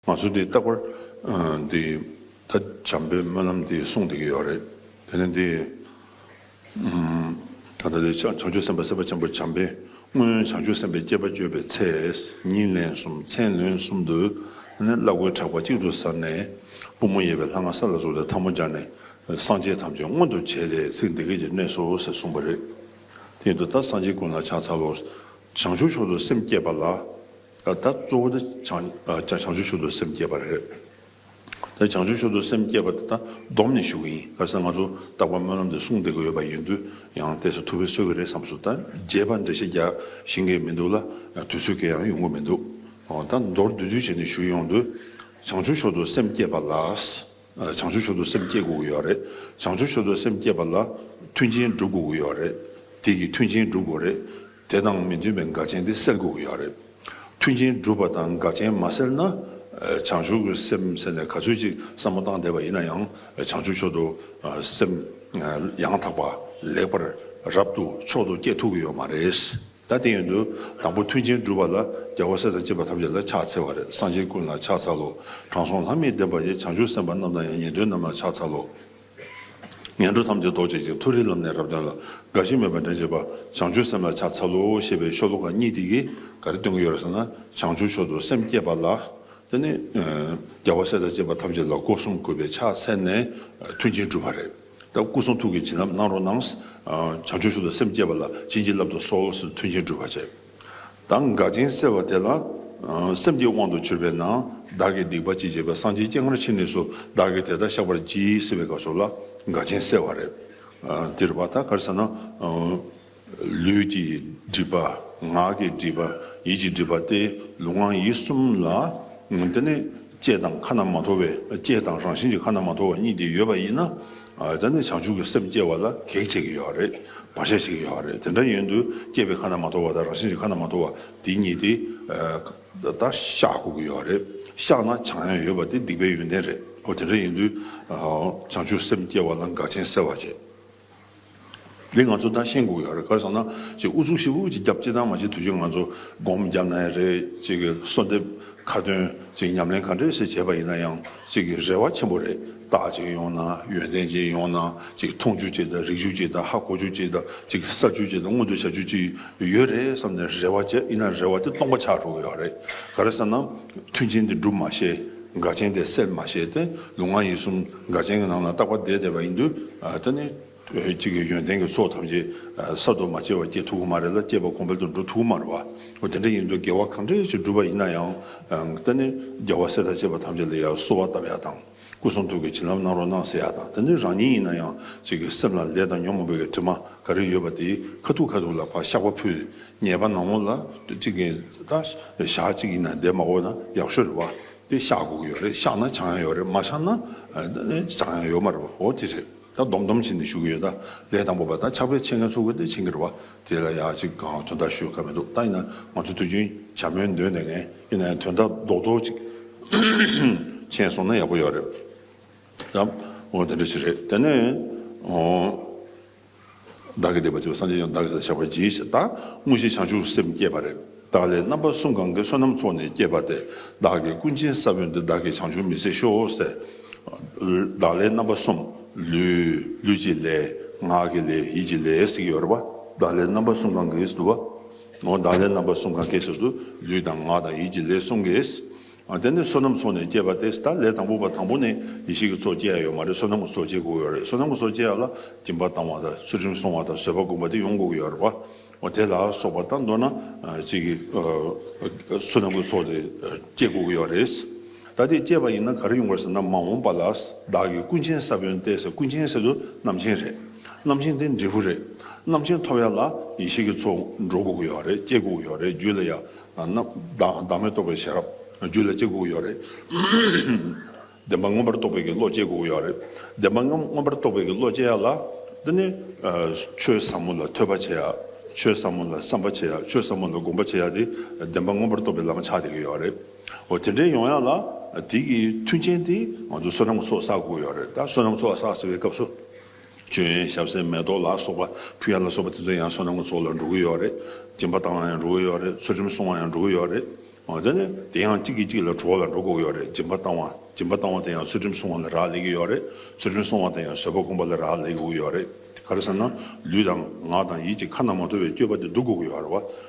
ང་ཚོ་འདི་རྟག་པར་འདི་ད་བྱམས་པའི་སྨོན་ལམ་འདི་གསུངས་བསྡད་ཀྱི་ཡོད་རེད་དེ་ནི་འདི་ད་ལྟ་འདི་བྱང་ཆུབ་སེམས་དཔའ་སེམས་དཔའ་ཆེན་པོ་བྱམས་པའི་སྔོན་བྱང་ཆུབ་སེམས་དཔའི་སྐྱེས་པ་བརྗོད་པའི་ཚེ་ཉིན་ལན་གསུམ་མཚན་ལོན་གསུམ་དུ་ནི་བླ་གོས་དྲག་པ་གཅིག་ཏུ་གཟར་ནས་པུས་མོ་གཡས་པའི་ལྷ་ང་ས་ལ་བཙུགས་ཏེ་འཐབ་མོ་སྦྱར་ནས་སངས་རྒྱས་ཐམས་ཅད་མངོན་དུ་བྱས་ཏེ་ཚིག་འདི་སྐད་ཅེས་གནས་སོ་ཞེས་གསུངས་པ་རེད། དེ་ཡིན་དུ་ད་སངས་རྒྱས་ཀུན་ལ་ཕྱག་འཚལ་ལོ། བྱང་ཆུབ་མཆོག་ཏུ་སེམས་བསྐྱེད་པ་ལ། ད་ལྟ་གཙོ་བོ་དེ་བྱང་ཆུབ་ཤུགས་འདོད་སེམས་བསྐྱེད་པ་རེད། བྱང་ཆུབ་ཤུགས་འདོད་སེམས་བསྐྱེད་པ་དེ་དག་བསྡོམས་ནས་ཞུ་གི་ཡིན། གལ་སྲིད་ང་ཚོ་རྟག་པར་སྨོན་ལམ་དེ་གསུངས་བསྡད་ཀྱི་ཡོད་པ་ཡིན་དུས་ཡང་བལྟས་ཚེ་ཐུགས་ཕན་གསོས་ཀྱི་རེད་བསམས་སོང། ད་རྒྱས་པར་འགྲེལ་བཤད་རྒྱག་བཞིན་གྱི་མི་འདུག་ལ་དུས་ཚོད་གས་ཡང་ཡོང་གི་མི་འདུག་ད་མདོར་བསྡུས་ཚུལ་བྱས་ནས་ཞུས་ཡོང་དུས། བྱང་ཆུབ་ཤུགས་འདོད་སེམས་བསྐྱེད་པ་ལ་བྱང་ཆུབ་ཤུགས་འདོད་སེམས་བསྐྱེད་དགོས་ཀྱི་ཡོད་རེད། བྱང་ཆུབ་ཤུགས་འདོད་སེམས་བསྐྱེད་པ་ལ་མཐུན་རྐྱེན་བསྒྲུབ་དགོས་ཀྱི་ཡོད་རེད། དེ་གིས་མཐུན་རྐྱེན་བསྒྲུབ་དགོས་རེད། དེ་དང་མི་མཐུན་པའི་དགའ་ཆེན་དེ་སེལ་དགོས་ཀྱི་ཡོད་རེད། མཐུན་རྐྱེན་སྒྲུབ་པ་དང་དགའ་ཆེན་མ་སེལ་ན། བྱང་ཆུབ་ཀྱི་སེམས་ཟེར་ནས་ག་ཚོད་ཅིག་བསམ་བློ་བཏང་བསྡད་པ་ཡིན་ན་ཡང་བྱང་ཆུབ་མཆོག་ཏུ་སེམས་ཡང་དག་པ་ལེགས་པར་རབ་ཏུ་མཆོག་ཏུ་བསྐྱེད་ཐུབ་ཀྱི་ཡོད་མ་རེད། ད་ལྟའི་ཡོན་ཏུ་དང་པོ་མཐུན་རྐྱེན་སྒྲུབ་པ་ལ་རྒྱལ་བ་སྲས་དང་བཅས་པ་ཐམས་ཅད་ལ་ཕྱག་འཚལ་བ་རེད་སངས་རྒྱས་ཀུན་ལ་ཕྱག་འཚལ་ལོ། དྲང་སྲོང་ལྷ་མིའི་བདེན་པ་ཡི་བྱང་ཆུབ་སེམས་དཔའ་རྣམས་དང་ཡང་ཉན་ཐོས་རྣམས་ལ་ཕྱག་འཚལ་ལོ། ངན་འགྲོ་ཐམས་ཅད་ཟློག་བྱེད་ཅིང་མཐོ་རིས་ལམ་ནས་རབ་དོན་ལ་དགའ་ཞིང་མོས་པ་འདྲེན་བྱེད་པ་བྱང་ཆུབ་སེམས་ལ་ཕྱག་འཚལ་ལོ་ཞེས་པའི་ཤོ་ལོ་ཀ་གཉིས་དེ་གིས་ག་རེ་སྟོན་གྱི་ཡོད་རེད་ཟེར་ན་བྱང་ཆུབ་མཆོག་ཏུ་སེམས་བསྐྱེད་པ་ལ། དེ་ནི་རྒྱལ་བ་སྲས་དང་བཅས་པ་ཐམས་ཅད་ལ་སྒོ་གསུམ་གུས་པས་ཕྱག་འཚལ་ནས་མཐུན་རྐྱེན་བསྒྲུབ་པ་རེད། ད་སྐུ་གསུང་ཐུགས་ཀྱི་བྱིན་རླབས་གནང་རོགས་གནང། བྱང་ཆུབ་མཆོག་ཏུ་སེམས་བསྐྱེད་པ་ལ་བྱིན་གྱིས་བརླབ་ཏུ་གསོལ་ལོ་ཟེར་མཐུན་རྐྱེན་བསྒྲུབ་པ་བྱས། དང་དགའ་ཅན་གསལ་བ་དེ་ལ། སེམས་ཀྱི་དབང་དུ་གྱུར་པས་ན་བདག་གིས་སྡིག་པ་ཅི་བྱས་པ་སངས་རྒྱས་སྐྱེ་སྔར་ཕྱི་ནས་སུ་བདག་གིས་དེ་དག་བཤགས་པར་གྱིས་ཟེར་བའི་སྐབས་སོགས་ལ་དགའ་ཅན་གསལ་བ་རེད། འདིར་བ་ད་གར་ཟེར་ན། ལུས་ཀྱི་སྒྲིབ་པ། ངག་གི་སྒྲིབ་པ། ཡིད་ཀྱི་སྒྲིབ་པ་སྟེ་ལུས་ངག་ཡིད་གསུམ་ལ། དེ་ནི་ལྕེ་དང་ཁ་ན་མ་ཐོ་བའི་ལྕེ་དང་རང་བཞིན་གྱི་ཁ་ན་མ་ཐོ་བ་གཉིས་དེ་ཡོད་པ་ཡིན་ན། དེ་ནས་བྱང་ཆུབ་ཀྱི་སེམས་སྐྱེ་བ་ལ་གེགས་བྱེད་ཀྱི་ཡོད་རེད། བར་ཆད་བྱེད་ཀྱི་ཡོད་རེད། དེ་འདྲ་ཡིན་དུས་སྐྱེས་པའི་ཁ་ན་མ་ཐོ་བ་དང་རང་བཞིན་གྱི་ཁ་ན་མ་ཐོ་བ་དེ་གཉིས་དེ་དག་ཤ་ཁུག་གི་ཡོད་རེད། བཤགས་ན་བྱང་ཡང་ཡོད་པ་དེ་སྡིག་པའི་ཡོན་ཏན་རེད། འོ་དེ་འདྲ་ཡིན་དུས། བྱང་ཆུབ་སེམས་སྐྱེ་བ་ལ་འགག་ཅན་སེལ་བར་བྱེད། རེད་ང་ཚོ་ད་ཤེས་འགུག་ཡག་རེད་ག་རེ་བསམ་ན་ཅིག་ཨུ་ཚུགས་ཤིག་ཧུར་གྱིས་རྒྱབ་ཅི་ཙང་མ་བྱེད་དུས་ཆོད་ང་ཚོ་སྒོམ་རྒྱབ་ན་ཡང་རེད་ཅིག་གསོལ་འདེབས་ཁ་ཏོན་ཅིག་ཉམས་ལེན་ག་འདྲས་ཤིག་བྱས་པ་ཡིན་ན་ཡང་ཅིག་རེ་བ་ཆེན་པོ་རེད་རྟགས་ཅིག་ཡོང་ན་ཡོན་ཏན་ཅིག་ཡོང་ན་ཅིག་མཐོང་བྱུ་ཅིག་དང་རིག་བྱུ་ཅིག་དང་ཧ་གོ་བྱུ་ཅིག་དང་ཅིག་བསགས་བྱུ་ཅིག་དང་མངོན་དུ་བྱ་བྱུ་ཅིག་ཡོད་རེད་བསམ་ནས་རེ་བ་བྱས་ཡིན་ན་རེ་བ་དེ་སྟོང་པ་ཆགས་འགྲོ་གི་ཡག་རེད་ག་རེ་བསམ་ན་མཐུན་རྐྱེན་དེ་སྒྲུབ་མ་ཤེས་དགའ་ཆེན་དེ་སེལ་མ་ཤེས་ཏེ་ལུས་ངག་ཡིད་གསུམ་དགའ་ཆེན་གྱི་ནང་ལ་རྟག་པར་བསྡད་བསྡད་པ་ཡིན་དུས་ད་ནི། གཅིག་གིས་ཡོན་ཏན་གྱི་ཚོགས་ཐམས་ཅད་གསར་དུ་མ་སྐྱེས་པར་སྐྱེ་ཐུབ་ཀྱི་མ་རེད་ལ་སྐྱེས་པ་གོང་འཕེལ་དུ་འགྲོ་ཐུབ་ཀྱི་མ་རེད་བ། དེ་འདྲ་ཡིན་དུས་དགེ་བ་གང་འདྲ་ཞིག་བསྒྲུབས་པ་ཡིན་ན་ཡང། ད་ནི་རྒྱལ་བ་སྲས་དང་བཅས་པ་ཐམས་ཅད་ལ་ཡང་གསོལ་བ་བཏབ་ཡག་དང། སྐུ་གསུང་ཐུགས་ཀྱི་བྱིན་རླབས་གནང་རོགས་གནང་ཟེར་ཡག་དང་ད་ནི་རང་ཉིད་ཡིན་ན་ཡང་གཅིག་གི་སེམས་ལ་ལས་དང་ཉོན་མོངས་པའི་དྲི་མ་ག་རེ་ཡོད་པ་དེ་ཁ་ཐུག་ཁ་ཐུག་ལ་བག་ཤག་པ་ཕུལ། ཉེས་པ་ནག་མོ་ལ་གཅིག་གིས་ད་ཞག་གཅིག་ཡིན་ན་འདས་མ་འོ་ན་ཡག་ཤོས་རེད་བ། དེ་ཤག་དགུ་ཡོད་རེད་ཤག་ན་བྱང་ཡང་ཡོད་རེད་མ་ཤག་ན་ད་ནི་བྱང་ཡང་ཡོད་མ་རེད་བ་འོ་དེ་རེད། ད་སྡོམ་སྡོམ་བྱས་ནས་བཞུགས་ཀྱི་ཡོད། ལས་དང་པོ་པ་ད་ཆགས་པའི་ཆེད་ངལ་ཚུགས་པ་དེ་ཕྱིན་གྱི་རེད་བ། དེ་ལ་ཡག་ཅིག་གང་དོན་དག་ཞུས་ཁག་མི་འདུག་ད་ཡིན་ན་ང་ཚོ་དུས་རྒྱུན་བྱ་སྨོན་འདོན་ནས་ངས་ཡིན་ན་ཡང་དོན་དག་རྡོག་རྡོག་ཅིག་མཁྱེན་སོང་ན་ཡག་པོ་ཡོད་རེད་དམ། འོ་དེ་འདྲ་ཞིག་རེད་དེ་ནས། བདག་གི་བདེན་པ་ཆེན་པོ་སངས་རྒྱས་ཀྱང་བདག་གི་ས་ལ་བཞག་པར་བགྱི་ཞེས་བདག་དངོས་གཞི་བྱང་ཆུབ་སེམས་བསྐྱེད་པ་རེ་བདག་ལས་རྣམ་པ་གསུམ་གང་གཱའི་བསོད་ནམས་ཚོགས་ནི་བསྐྱེད་པ་སྟེ་བདག་གི་ཀུན་མཁྱེན་ས་བོན་འདི་བདག་གིས་བྱང་ཆུབ་མི་ཟད་ཤོག་ཟེར། བདག་ལས་རྣམ་པ་གསུམ་ལུས་ཀྱི་ལས། ངག་གི་ལས་ཡིད་ཀྱི་ལས་ཟེར་གྱི་ཡོད་རེད་པ། བདག་ལས་རྣམ་པ་གསུམ་གང་གཱའི་ཟུར་དུ་བ། བདག་ལས་རྣམ་པ་གསུམ་གང་གཱའི་ཟུར་དུ་ལུས་དང་ངག་དང་ཡིད་ཀྱི་ལས་གསུམ་གྱིས། དེ་ནི་བསོད་ནམས་ཚོགས་ནས་སྐྱེས་པ་སྟེ་ད་ལས་དང་པོ་པ་དང་པོ་ནས་ཡེ་ཤེས་ཀྱི་ཚོགས་སྐྱེ་ཡ་ཡོད་མ་རེད་བསོད་ནམས་ཀྱི་ཚོགས་སྐྱེ་དགོས་ཡོད་རེད་བསོད་ནམས་ཀྱི་ཚོགས་སྐྱེ་ཡ་ལ་སྦྱིན་པ་བཏང་བ་དང་ཚུལ་ཁྲིམས་སྲུང་བ་དང་བཟོད་པ་བསྒོམ་པ་དེ་ཡོང་དགོས་ཡོད་རེད་བ་དེ་ལ་སོགས་པ་དང་མདོར་ན་གཅིག་གིས་བསོད་ནམས་ཀྱི་ཚོགས་དེ་སྐྱེ་དགོས་ཡོད་རེད། ད་དེ་སྐྱེས་པ་ཡིན་ན་ག་རེ་ཡོང་དགོས་ཟེར་ན་མ་འོངས་པ་ལ་བདག་གིས་ཀུན་མཁྱེན་ས་བོན་བསྟན་ཟེར་ཀུན་མཁྱེན་ཟེར་དུ་རྣམ་མཁྱེན་རེད་རྣམ་མཁྱེན་དེ་འབྲས་བུ་རེད་རྣམ་མཁྱེན་ཐོབ་ཡ་ལ་ཡེ་ཤེས་ཀྱི་ཚོགས་འགྲོ་དགོས་ཡོད་རེད་སྐྱེ་དགོས་ཡོད་རེད་རྒྱུད་ལ་ཡང་བདག་མེད་རྟོགས་པའི་ཤེས་རབ་རྒྱུད་ལ་སྐྱེ་དགུ་ཡོད་རེད། བདེན་པ་མངོན་པར་རྟོགས་པའི་གི་བློ་སྐྱེ་དགུ་ཡོད་རེད། བདེན་པ་མངོན་པར་རྟོགས་པའི་གི་བློ་སྐྱེ་ཡ་ལ། དེ་ནས་ཆོས་ཟབ་མོ་ལ་ཐོས་པ་བྱེད་ཡ། ཆོས་ཟབ་མོ་ལ་བསམ་པ་བྱེད་ཡ་ཆོས་ཟབ་མོ་ལ་བསྒོམ་པ་བྱེད་ཡ་དེ་བདེན་པ་མངོན་པར་རྟོགས་པའི་ལམ་ཆགས་བསྡད་གི་ཡོད་རེད། འོ་དེ་འདྲས་ཡོང་ཡ་ལ་དེ་གི་མཐུན་རྐྱེན་དེ་ང་ཚོ་བསོད་ནམས་གི་ཚོགས་བསགས་དགུ་ཡོད་རེད་ད་བསོད་ནམས་ཚོགས་བསགས་ཟེར་བའི་སྐབས་སུ། བྱོན་ཡས་ཞབས་སེན་མེ་ཏོག་ལ་སོགས་པ་ཕུལ་ཡ་ལ་སོགས་པ་དེ་ཚོ་ཡང་བསོད་ནམས་ཀྱི་ཚོགས་ལ་འགྲོ་གི་ཡོད་རེད། སྦྱིན་པ་བཏང་ལ་ཡང་འགྲོ་གི་ཡོད་རེད་ཚུལ་ཁྲིམས་སྲུང་བ་ཡང་འགྲོ་གི་ཡོད་རེད། དེ་ནས་དེ་ཡང་གཅིག་གིས་གཅིག་ལ་གྲོགས་ལ་འགྲོ་དགོས་ཡོད་རེད་སྦྱིན་པ་བཏང་བ་སྦྱིན་པ་བཏང་བ་དེ་ཡང་ཚུལ་ཁྲིམས་སྲུང་བ་ལ་རག་ལས་གི་ཡོད་རེད་ཚུལ་ཁྲིམས་སྲུང་བ་དེ་ཡང་བཟོད་པ་སྒོམ་པ་ལ་རག་ལས་དགོས་གི་ཡོད་རེད། ག་རེ་ཟེར་ན་ལུས་དང་ངག་དང་ཡིད་ཀྱི་ཁ་ན་མ་ཐོ་བའི་སྐྱོད་པ་དེ་བསྡུ་དགོས་གི་ཡོད་རེད་བ།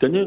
དེ་ནི་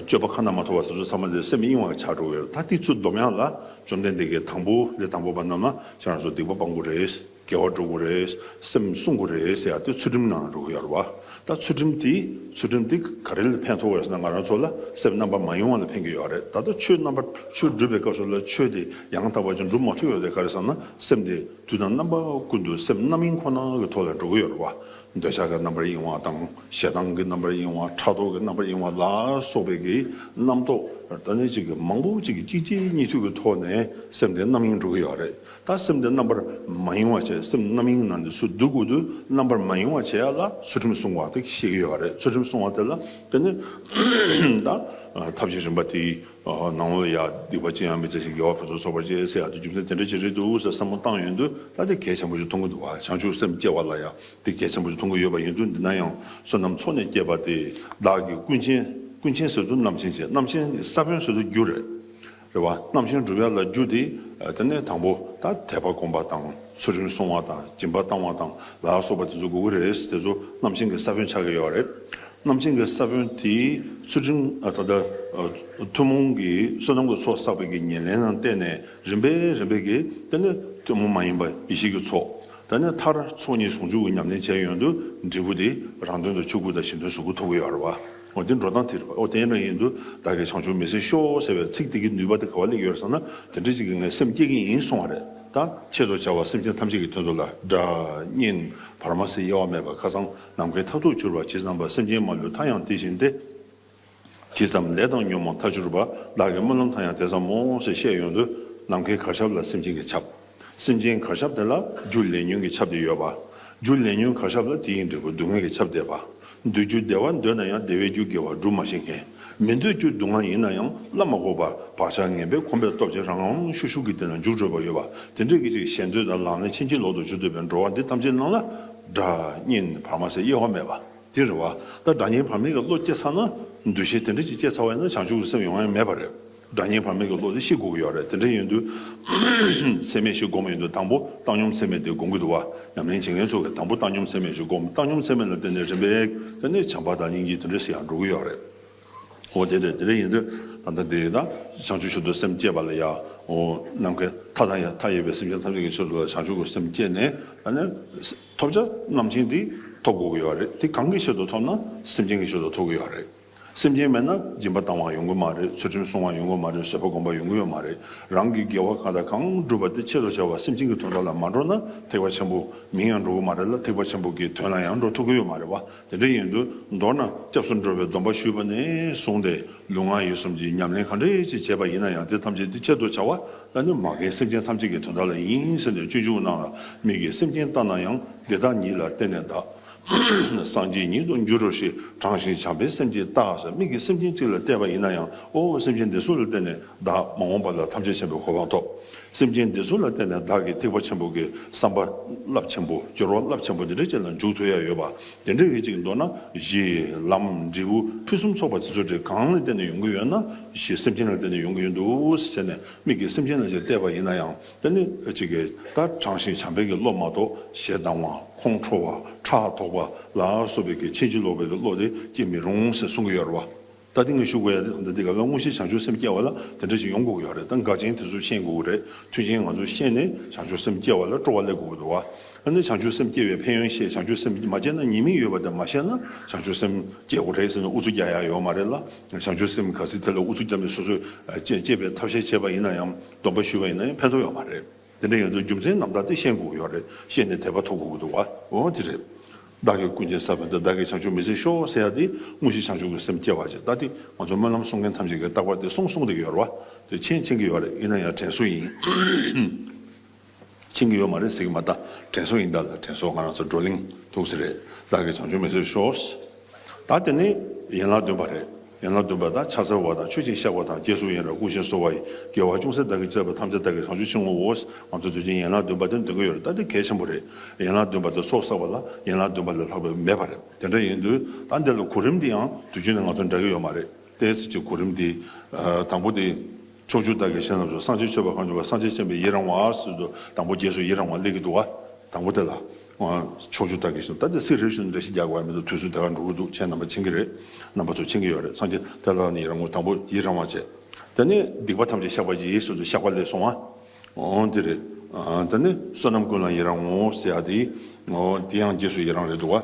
སྤྱོད་པ་ཁ་ན་མ་ཐོ་བ་དེ་ཚོ་ཚང་མ་ལས་སེམས་གཡེང་བར་བྱ་འགྲོ་བས་ད་ཏིག་ཚུལ་སྡོམ་ཡང་ལ་བཅོམ་ལྡན་འདས་ཀྱིས་དང་པོ་ལས་དང་པོ་པ་རྣམས་ན་ཁྱེད་རང་ཚོ་སྡིག་པ་སྤང་དགོས་རེད། དགེ་བ་འགྲོ་དགོས་རེད། སེམས་བསྲུང་དགོས་རེད་ཟེར་ཡག་དེ་ཚུལ་ཁྲིམས་ནང་རུལ་ཡོད་བ། ད་ཚུལ་ཁྲིམས་དེ་ཚུལ་ཁྲིམས་དེ་ག་རེ་ལ་ཕན་ཐོག་བས་ན་ང་རང་ཚོ་ལ་སེམས་རྣམ་པར་མ་གཡེང་བ་ལ་ཕན་གྱི་ཡོད་རེད་ད་ལྟ་ཆོས་རྣམ་པར་ཆོས་སྒྲུབ་པའི་སྐབས་སུ་ལ་ཆོས་དེ་ཡང་དག་པ་ཅིག་འགྲུབ་མ་ཐུབ་ཡོད་དེ་ག་རེ་བསམ་ན་སེམས་དེ་དུས་དང་རྣམ་པ་ཀུན་ཏུ་སེམས་རྣམ་གཡེང་ཁོ་ན་གི་ཐོག་ལ་འགྲོ་གི་ཡོད་རེད་བ། འདོད་ཆགས་ཀྱི་རྣམ་པར་གཡེང་བ་དང་ཞེ་སྡང་གི་རྣམ་པར་གཡེང་བ་ཕྲག་དོག་གི་རྣམ་པར་གཡེང་བ་ལ་སོགས་པའི་གི་རྣམ་རྟོག་ཏུ་ནི་གཅིག་གིས་མང་པོ་གཅིག་གིས་གཅིག་ཅིག་གཉིས་མཐུད་ཀྱི་ཐོག་ནས་སེམས་དེ་རྣམ་གཡེང་འགྲོ་གི་ཡོད་རེད་ད་སེམས་དེ་རྣམ་པར་མ་གཡེང་བ་བྱས་སེམས་རྣམ་གཡེང་ནང་དུ་སུ་འདུག་གི་འདུག་རྣམ་པར་མ་གཡེང་བ་བྱས་ལ་ཚུལ་ཁྲིམས་སྲུང་བ་དེ་ཤེས་ཀྱི་ཡོད་རེད་ཚུལ་ཁྲིམས་སྲུང་བ་དེ་ལ་དེ་ནི་ད་ཐབས་ཀྱི་རིམ་པ་དེ་ནང་བོད་ཡ་སྡིག་པ་ཅི་ཡང་མི་བྱེད་ཅིག་རྒྱལ་བ་ཕུན་ཚོགས་ཚོགས་པར་བྱེད་ཟེར་ཡག་ཏུ་རྒྱུ་མཚན་དེ་འདྲ་ཅིག་རེད་འདུག་ཟེར་བསམ་བློ་བཏང་ཡོད་འདུག་ད་དེ་གལ་ཆེན་པོ་ཞིག་མཐོང་གི་འདུག་བ་བྱང་ཆུབ་སེམས་སྐྱེ་བ་ལ་ཡང་དེ་གལ་ཆེན་པོ་ཞིག་མཐོང་གི་ཡོད་པ་ཡིན་འདུག་འདི་ན་ཡང་བསོད་ནམས་ཚོགས་ནས་སྐྱེས་པ་དེ་བདག་གིས་ཀུན་མཁྱེན་ཀུན་མཁྱེན་ཟེར་དུ་རྣམ་མཁྱེན་བྱས་རྣམ་མཁྱེན་གྱི་ས་བོན་ཟེར་དུ་རྒྱུ་རེད་རེད་བ་རྣམ་མཁྱེན་འགྲུབ་ཡ་ལ་རྒྱུ་དེ་དེ་ནས་དང་པོ་ད་དད་པ་སྒོམ་པ་དང་ཚུལ་ཁྲིམས་སྲུང་བ་དང་སྦྱིན་པ་བཏང་བ་དང་ལ་སོགས་པ་དེ་ཚོ་དགོས་ཀྱི་རེད་དེ་ཚོ་རྣམ་མཁྱེན་གྱི་ས་བོན་ཆགས་ཀྱི་ཡོད་རེད། རྣམ་ཅན་གྱི་ས་བོན་དེས་ཚུལ་ཁྲིམས་ད་ལྟ་ཐུན་མོང་གི་བསོད་ནམས་ཀྱི་ཚོགས་བསགས་པའི་ཉེར་ལེན་ལ་བརྟེན་ནས་རིམ་པས་རིམ་པས་ཀྱིས་དེ་ནི་ཐུན་མོང་མ་ཡིན་པ་ཡེ་ཤེས་ཀྱི་ཚོགས་ད་ནི་མཐར་ཚོགས་གཉིས་ཟུང་འཇུག་གི་ཉམས་ལེན་བྱས་ཡོན་དུ་འབྲས་བུ་དེ་རང་དོན་དུ་ཆོས་སྐུ་དང་གཞན་དོན་གཟུགས་སྐུ་ཐོབ་ཡོད་རེད་བ། དེ་འགྲོ་སྟངས་དེ་རེད་བ། ཨོ་དེ་འདྲ་ཡིན་དུས་བདག་གིས་བྱང་ཆུབ་མི་ཟེར་ཤོག་ཟེར་བའི་ཚིག་དེ་གའི་ནུས་པ་དེ་ག་བ་ལས་ཡོད་རེད་བསམ་ན་དེ་འདྲ་ཅིག་གིས་ངའི་སེམས་བསྐྱེད་ཀྱིན་ཡིན་གསུང་བ་རེད་ད། ཆེད་དུ་བྱ་བ་སེམས་ཅན་ཐམས་ཅད་ཀྱི་དོན་དུ་ལ་དགྲ་གཉེན་བར་མ་ཟེར་དབྱེ་བ་མེད་པར་ཁ་ཚང་ནམ་མཁའི་མཐའ་ཐུག་འཕྱུར་བ་ཇི་ཙམ་པ་སེམས་ཅན་མ་ལུས་མཐའ་ཡང་དེ་བཞིན་ཏེ། ཇི་ཙམ་ལས་བཏང་སྙོམས་མ་མཐའ་འཕྱུར་བ་བདག་གི་སྨོན་ལམ་མཐའ་ཡང་དེ་ཙམ་མོ་ཞེས་བཤད་ཡོད་དོ། ནམ་མཁའི་གར་ཆབ་ལ་སེམས་ཅན་གྱི་ཆབ། སེམས་ཅན་གར་ཆབ་དེ་ལ་རྒྱུ་ལས་ཉོན་གྱི་ཆབ་དེ་ཡོད་པ། རྒྱུ་ལས་ཉོན་གར་ཆབ་ལ་དེ་ཡི་འབྲས་བུ་སྡུག་བསྔལ་གྱི་ཆབ་འདས་པ། འདོད་རྒྱུ་བདེ་བ་འདོད་ན་ཡང་བདེ་བའི་རྒྱུ་དགེ་བ་སྒྲུབ་མ་ཤེས་མཁན། མི་འདོད་རྒྱུ་སྡུག་བསྔལ་ཡིན་ན་ཡང་བསླབ་མ་གོ་བར་བག་ཆགས་ངན་པས་ཁོམ་པའི་སྟོབས་ཀྱིས་རང་ངམ་ཤུགས་ཤུགས་ཀྱིས་དེ་ལ་འཇུག་འགྲོ་བ་ཡོད་པ། དེ་འདྲས་ཀྱི་ཅིག་ཞལ་འདོད་དང་ལག་ལེན་ཕྱིན་ཅི་ལོག་ཏུ་འཇུག་འདོད་པའི་འགྲོ་བ་འདི་ཐམས་ཅད་སྣང་ལ་སྒྲ་བརྙན་བར་མ་ཟད་དབྱེ་བ་མེད་པ་དེ་རེད་བ། ད་སྒྲ་བརྙན་བར་མེད་ཀྱི་བློ་སྐྱེ་ཚར་ན་འདུ་ཤེས་དེ་འདྲ་ཅིག་སྐྱེ་ཚར་བས་ན་བྱང་ཆུབ་ཀྱི་སེམས་ཡོང་ཡ་མེད་པ་རེད། སྒྲ་བརྙན་བར་མེད་ཀྱི་བློ་དེ་ཤི་འགོ་གི་ཡོད་རེད་དེ་འདྲ་ཡིན་དུས། ཚད་མེད་ཞིག་སྒོམ་གྱི་འདུག་དང་པོ་བཏང་སྙོམས་ཚད་མེད་དེ་སྒོམ་གྱི་འདུག་བ། ཉམས་ལེན་བྱེད་མཁན་ཚོ་གིས་དང་པོ་བཏང་སྙོམས་ཚད་མེད་ཞིག་སྒོམ་བཏང་སྙོམས་ཚད་མེད་ལ་བརྟེན་ནས་རིམ་པས་བརྟེན་ནས་བྱམས་པ་དང་སྙིང་རྗེ་དེ་འདྲ་ཞིག་ཡང་འགྲོ་གི་ཡོད་རེད། ཨོ་དེ་རེད་དེ་རེད་ཡིན་དུས་ད་ལྟ་འདི་ན་བྱང་ཆུབ་ཤུལ་དུ་སེམས་བསྐྱེད་པ་ལ་ཡང་ངོ་ནམ་མཁའི་མཐའ་དང་ཡང་མཐའ་ཡས་པའི་སེམས་ཅན་ཐམས་ཅད་ཀྱི་ཕྱིར་དུ་བྱང་ཆུབ་ཀྱི་སེམས་བསྐྱེད་ནས་ད་ནི་ཐོབ་བྱ་རྣམ་མཁྱེན་འདི་ཐོབ་དགོས་ཀྱི་ཡོད་རེད་དེ་གང་གི་ཕྱིར་དུ་ཐོབ་ན་སེམས་ཅན་གྱི་ཕྱིར་དུ་ཐོབ་ཀྱི་ཡོད་རེད་སེམས་ཅན་མེད་ན་སྦྱིན་པ་བཏང་བ་ཡོང་གི་མ་རེད་ཚུལ་ཁྲིམས་སྲུང་བ་ཡོང་གི་མ་རེད་བཟོད་པ་སྒོམ་པ་ཡོང་གི་ཡོད་མ་རེད་རང་གི་དགེ་བ་གང་དང་གང་བསྒྲུབ་པ་དེ་ཆེད་དུ་བྱ་བ་སེམས་ཅན་གྱི་དོན་དག་ལ་མ་འགྲོ་ན་ཐེག་པ་ཆེན་པོ་མིང་ཡང་འགྲོ་གི་མ་རེད་ལ་ཐེག་པ་ཆེན་པོ་གྱི་དོན་ལ་ཡང་འགྲོ་ཐུབ་ཀྱི་ཡོད་མ་རེད་བ་དེ་འདྲའི་ཡན་དུ་མདོར་ན་སྐྱབས་སུ་འགྲོ་བའི་སྡོམ་པ་ཞུས་པ་ནས་བཟུང་སྟེ་ལུས་ངག་ཡིད་གསུམ་གྱི་ཉམས་ལེན་གང་འདྲས་ཅི་བྱས་པ་ཡིན་ན་ཡང་དེ་ཐམས་ཅད་འདི་ཆེད་དུ་བྱ་བ་ལ་ནི་མ་འགལ་སེམས་ཅན་ཐམས་ཅད་ཀྱི་དོན་དག་ལ་ཡིན་ཟེར་ནས་སྤྱོད་འཇུག་གནང་ལ་མི་དགེ་སེམས་ཅན་ལྟ་ན་ཡང་འདི་དག་ཉིད་ལ་བརྟེན་ནས་བདག་སངས་རྒྱས་ཉིད་དུ་འགྱུར་རོ་ཞེས་དྲང་ཞིང་བྱམས་པའི་སེམས་ཀྱིས་བརྟག་ཟེར་མིག་གིས་སེམས་ཅན་གཅིག་ལ་བལྟས་པ་ཡིན་ན་ཡང་ཨོ་སེམས་ཅན་འདི་སུ་ལ་བརྟེན་ནས་བདག་མ་འོངས་པ་ལ་ཐམས་ཅད་བྱེད་པའི་གོ་འཕང་ཐོབ། སེམས་ཅན་འདི་ཚོ་ལ་བརྟེན་ནས་བདག་གིས་ཐེག་པ་ཆེན་པོ་གི་བསམ་པ་རླབས་ཆེན་པོ་སྦྱོར་བ་རླབས་ཆེན་པོ་འདི་འདྲ་ཅིག་ལ་འཇུག་ཐུབ་ཡ་ཡོད་པ་དེ་འདྲ་བའི་ཅིག་མདོར་ན་གཞི་ལམ་འབྲས་བུ་ཕུན་སུམ་ཚོགས་པ་དེ་ཚོ་དེ་གང་ལ་བརྟེན་ནས་ཡོང་གི་ཡོད་ན་གཞི་སེམས་ཅན་ལ་བརྟེན་ནས་ཡོང་གི་ཡོད་འདུག་ཟེར་ནས་མིག་གིས་སེམས་ཅན་ལ་ཅིག་བལྟས་པ་ཡིན་ན་ཡང་དེ་ནི་ཅིག་གི་ད་དྲང་ཞིང་བྱམས་པའི་གི་བློ་མ་གཏོགས་ཞེ་སྡང་བ་ཁོང་ཁྲོ་བ་ཕྲག་དོག་པ་ལ་སོགས་པའི་གི་ཕྱིན་ཅི་ལོག་པའི་གི་བློ་དེ་སྐྱེ་མི་རུང་ཟེར་གསུང་གི་ཡོད་རེད་བ། ད་ལྟ་ངས་ཞུ་དགོས་ཡ་དེ་ད་ལྟའི་ག་ལ་དངོས་གཞི་བྱང་ཆུབ་སེམས་སྐྱེ་བ་ལ་དེ་འདྲ་ཞིག་ཡོང་དགོས་ཀྱི་ཡོད་རེད་ད་འགག་ཅན་དེ་ཚོས་ཤེས་དགོས་ཀྱི་རེད་མཐུན་རྐྱེན་ང་ཚོས་ཤེས་ནས་བྱང་ཆུབ་སེམས་སྐྱེ་བ་ལ་སྤྲོ་བ་སླེབས་དགོས་ཀྱི་འདུག་ཨ་ནི་བྱང་ཆུབ་སེམས་སྐྱེ་བའི་ཕན་ཡོན་ཤེས་བྱང་ཆུབ་སེམས་མ་སྐྱེ་ན་ཉེས་མིང་ཡོད་པ་དེ་མ་ཤེས་ན་བྱང་ཆུབ་སེམས་སྐྱེ་དགོས་རེད་ཟེར་ནས་ཨུ་ཚུགས་རྒྱག་ཡ་ཡོད་མ་རེད་ལ་བྱང་ཆུབ་སེམས་ག་ཟིག་དེ་ལ་ཨུ་ཚུགས་རྒྱབ་ནས་སོ་སོས་བཅས་བཅས་པའི་ཐབས་ཤེས་བྱས་པ་ཡིན་ན་ཡང་སྡོམ་པ་ཞུས་པ་ཡིན་ན་ཡང་ཕན་ཐོགས་ཡོད་མ་རེད། དེ་འདྲ་ཡོད་ཚེ་རྒྱུ་མཚན་ནམ་ཟླ་དེ་ཤེས་དགོས་ཀྱི་ཡོད་རེད་ཤེས་ནས་དད་པ་ཐོབ་དགོས་ཀྱི་འདུག་འོན་ཅི་རེད། བདག་གིས་ཀུན་མཁྱེན་ས་བོན་དེ་བདག་གིས་བྱང་ཆུབ་མི་ཟེར་ཤོག་ཟེར་ཡ་དེ་དངོས་གཞི་བྱང་ཆུབ་ཀྱི་སེམས་སྐྱེ་བ་ཅིག་ལྟ་དེ་ང་ཚོ་སྨོན་ལམ་གསུང་མཁན་ཐམས་ཅད་ཀྱིས་རྟག་པར་དེ་གསུང་གསུང་དེ་ཡོད་རེད་བ་དེ་མཁྱེན་མཁྱེན་གྱི་ཡོད་རེད་ཡིན་ན་ཡང་དྲན་གསོ་ཡིན། མཁྱེན་གྱི་ཡོད་མ་རེད་ཟེར་གྱི་མ་རྟ་དྲན་གསོ་ཡིན་ད་ལ་དྲན་གསོ་ང་རང་ཚོ་བགྲོ་གླེང་ཐུགས་ཟེར་རེད་བདག་གིས་བྱང་ཆུབ་མི་ཟེར་ཤོག། དང་དེ་ནི་ཡན་ལག་བདུན་པ་རེད། ཡན་ལག་བདུན་པ་དང་ཕྱག་འཚལ་བ་དང་ཆོས་ཅིག་བཤགས་པ་དང་རྗེས་སུ་ཡི་རང་ཀུན་གཞིར་གསོ་བ་ཡི་དགེ་བ་ཅུང་ཟད་བདག་གིས་སྤྱད་པ་ཐམས་ཅད་བདག་གི་གང་བྱོས་ཆེན་ངོ་བོ། ང་ཚོ་དུས་ཆེན་ཡན་ལག་བདུན་པ་དེ་འདོན་གྱི་ཡོད་རེད་ད་འདི་གལ་ཆེན་པོ་རེད། ཡན་ལག་བདུན་པ་དེ་སྲོག་བསགས་པ་ལ་ཡན་ལག་བདུན་པ་ལས་ལྷག་པའི་མེད་པ་རེད་དེ་འདྲ་ཡིན་དུས་ད་འདི་ལ་གོ་རིམ་འདི་ཡང་དུས་རྒྱུན་ནས་ང་ཚོ་འདྲ་གི་ཡོད་མ་རེད་དེ། ཚེ་གཅིག་གོ་རིམ་འདི། དང་པོ་འདི། ཕྱོགས་བཅུ་བདག་གི་གཞན་རྣམས་སུ་སངས་རྒྱས་མཆོད་པ་གང་བྱོས་པ་སངས་རྒྱས་བྱིན་པའི་ཡི་རང་བ། དང་པོ་རྗེས་སུ་ཡི་རང་བ་སླེབས་ཀྱི་འདུག་བ། དང་པོ་དེ་ལ། ཕྱོགས་བཅུ་ལྟ་གི་སོང་ད་དེ་སི་རེད་ཞུ་འདྲ་ཞིག་རྒྱག་གི་བ་མི་འདུག་དུས་ཚོད་དེ་གར་འགྲོ་གི་འདུག་ཆེན་རྣམ་པ་ཕྱིན་གི་རེད་རྣམ་པ་ཚོ་ཕྱིན་གི་ཡོད་རེད་སངས་རྒྱས་དེ་ལ་ནི་རང་ངོ་དང་པོ་ཡིད་རང་བ་བྱས་དེ་ནི་སྡིག་པ་ཐམས་ཅད་བཤགས་པ་ཡིན་ཟེར་དུ་བཤགས་པ་ལས་སོང་བ་འདི་རེད་དེ་ནི་བསོད་ནམས་ཀུན་ལ་ཡི་རང་ངོ་ཟེར་ཡག་དེ་ཡང་རྗེས་སུ་ཡི་རང་རེད་འདུག་བ།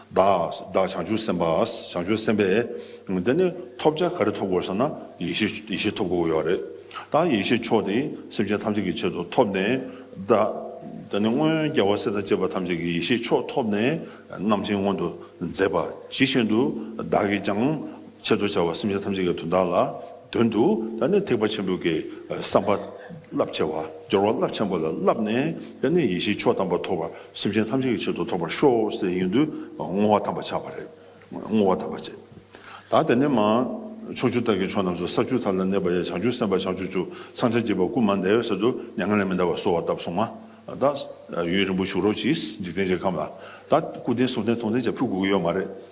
བདག་བདག་བྱང་ཆུབ་སེམས་དཔའ་བྱང་ཆུབ་སེམས་དཔའ། འདི་ནི་ཐོབ་བྱ་ག་རེ་ཐོབ་དགོས་ཟེར་ན་ཡེ་ཤེས་ཡེ་ཤེས་ཐོབ་དགོས་ཡོད་རེད། ད་ཡེ་ཤེས་མཆོག་དེ་སེམས་ཅན་ཐམས་ཅད་ཀྱི་ཆེད་དུ་ཐོབ་ནས་བདག། འདི་ནི་སྔོན་རྒྱལ་བ་སྲས་དང་བཅས་པ་ཐམས་ཅད་ཀྱི་ཡེ་ཤེས་མཆོག་ཐོབ་ནས་རྣམ་མཁྱེན་མངོན་དུ་མཛད་པ་ཇི་བཞིན་དུ་བདག་གིས་ཀྱང། ཆེད་དུ་བྱ་བ་སེམས་ཅན་ཐམས་ཅད་ཀྱི་དོན་དག་ལ་དོན་དུ་ད་ནི་ཐེག་པ་ཆེན་པོའི་གེགས་བསམ་པ་རླབས་ཆེ་བ་སྦྱོར་བ་རླབས་ཆེན་པོ་ལ་བསླབས་ནས་ད་ནི་ཡེ་ཤེས་མཆོག་དམ་པ་ཐོབ་པར་སེམས་ཅན་ཐམས་ཅད་ཀྱི་ཆེད་དུ་ཐོབ་པར་ཤོག་ཟེར་ཡོན་དུ་བསྔོ་བ་དམ་པ་བྱ་བ་རེད། བསྔོ་བ་དམ་པ་བྱས། ད་དེ་ནས་མ། ཕྱོགས་བཅུ་དག་གི་ཕྱོགས་རྣམས་སུ་ས་བཅུ་དག་ལ་གནས་པ་ཡང་བྱང་ཆུབ་སེམས་དཔའ་བྱང་ཆུབ་ཆུ་ཚང་ཕྱག་རྒྱས་པ་སྐུ་མ་འདས་པའི་ས་དུ་མྱ་ངན་ལས་མི་འདའ་བར་གསོལ་བ་བཏབ་སོང་ང། ད། ཡུན་རིང་པོ་བཞུགས་རོགས་གྱིས་འཇིག་རྟེན་གྱི་ཁམས་ལ། ད། སྐུ་རྟེན་གསུང་རྟེན་མཐོང་རྟེན་བཅས་ཕུལ་དགོས་ཀྱི་ཡོད་མ་རེད།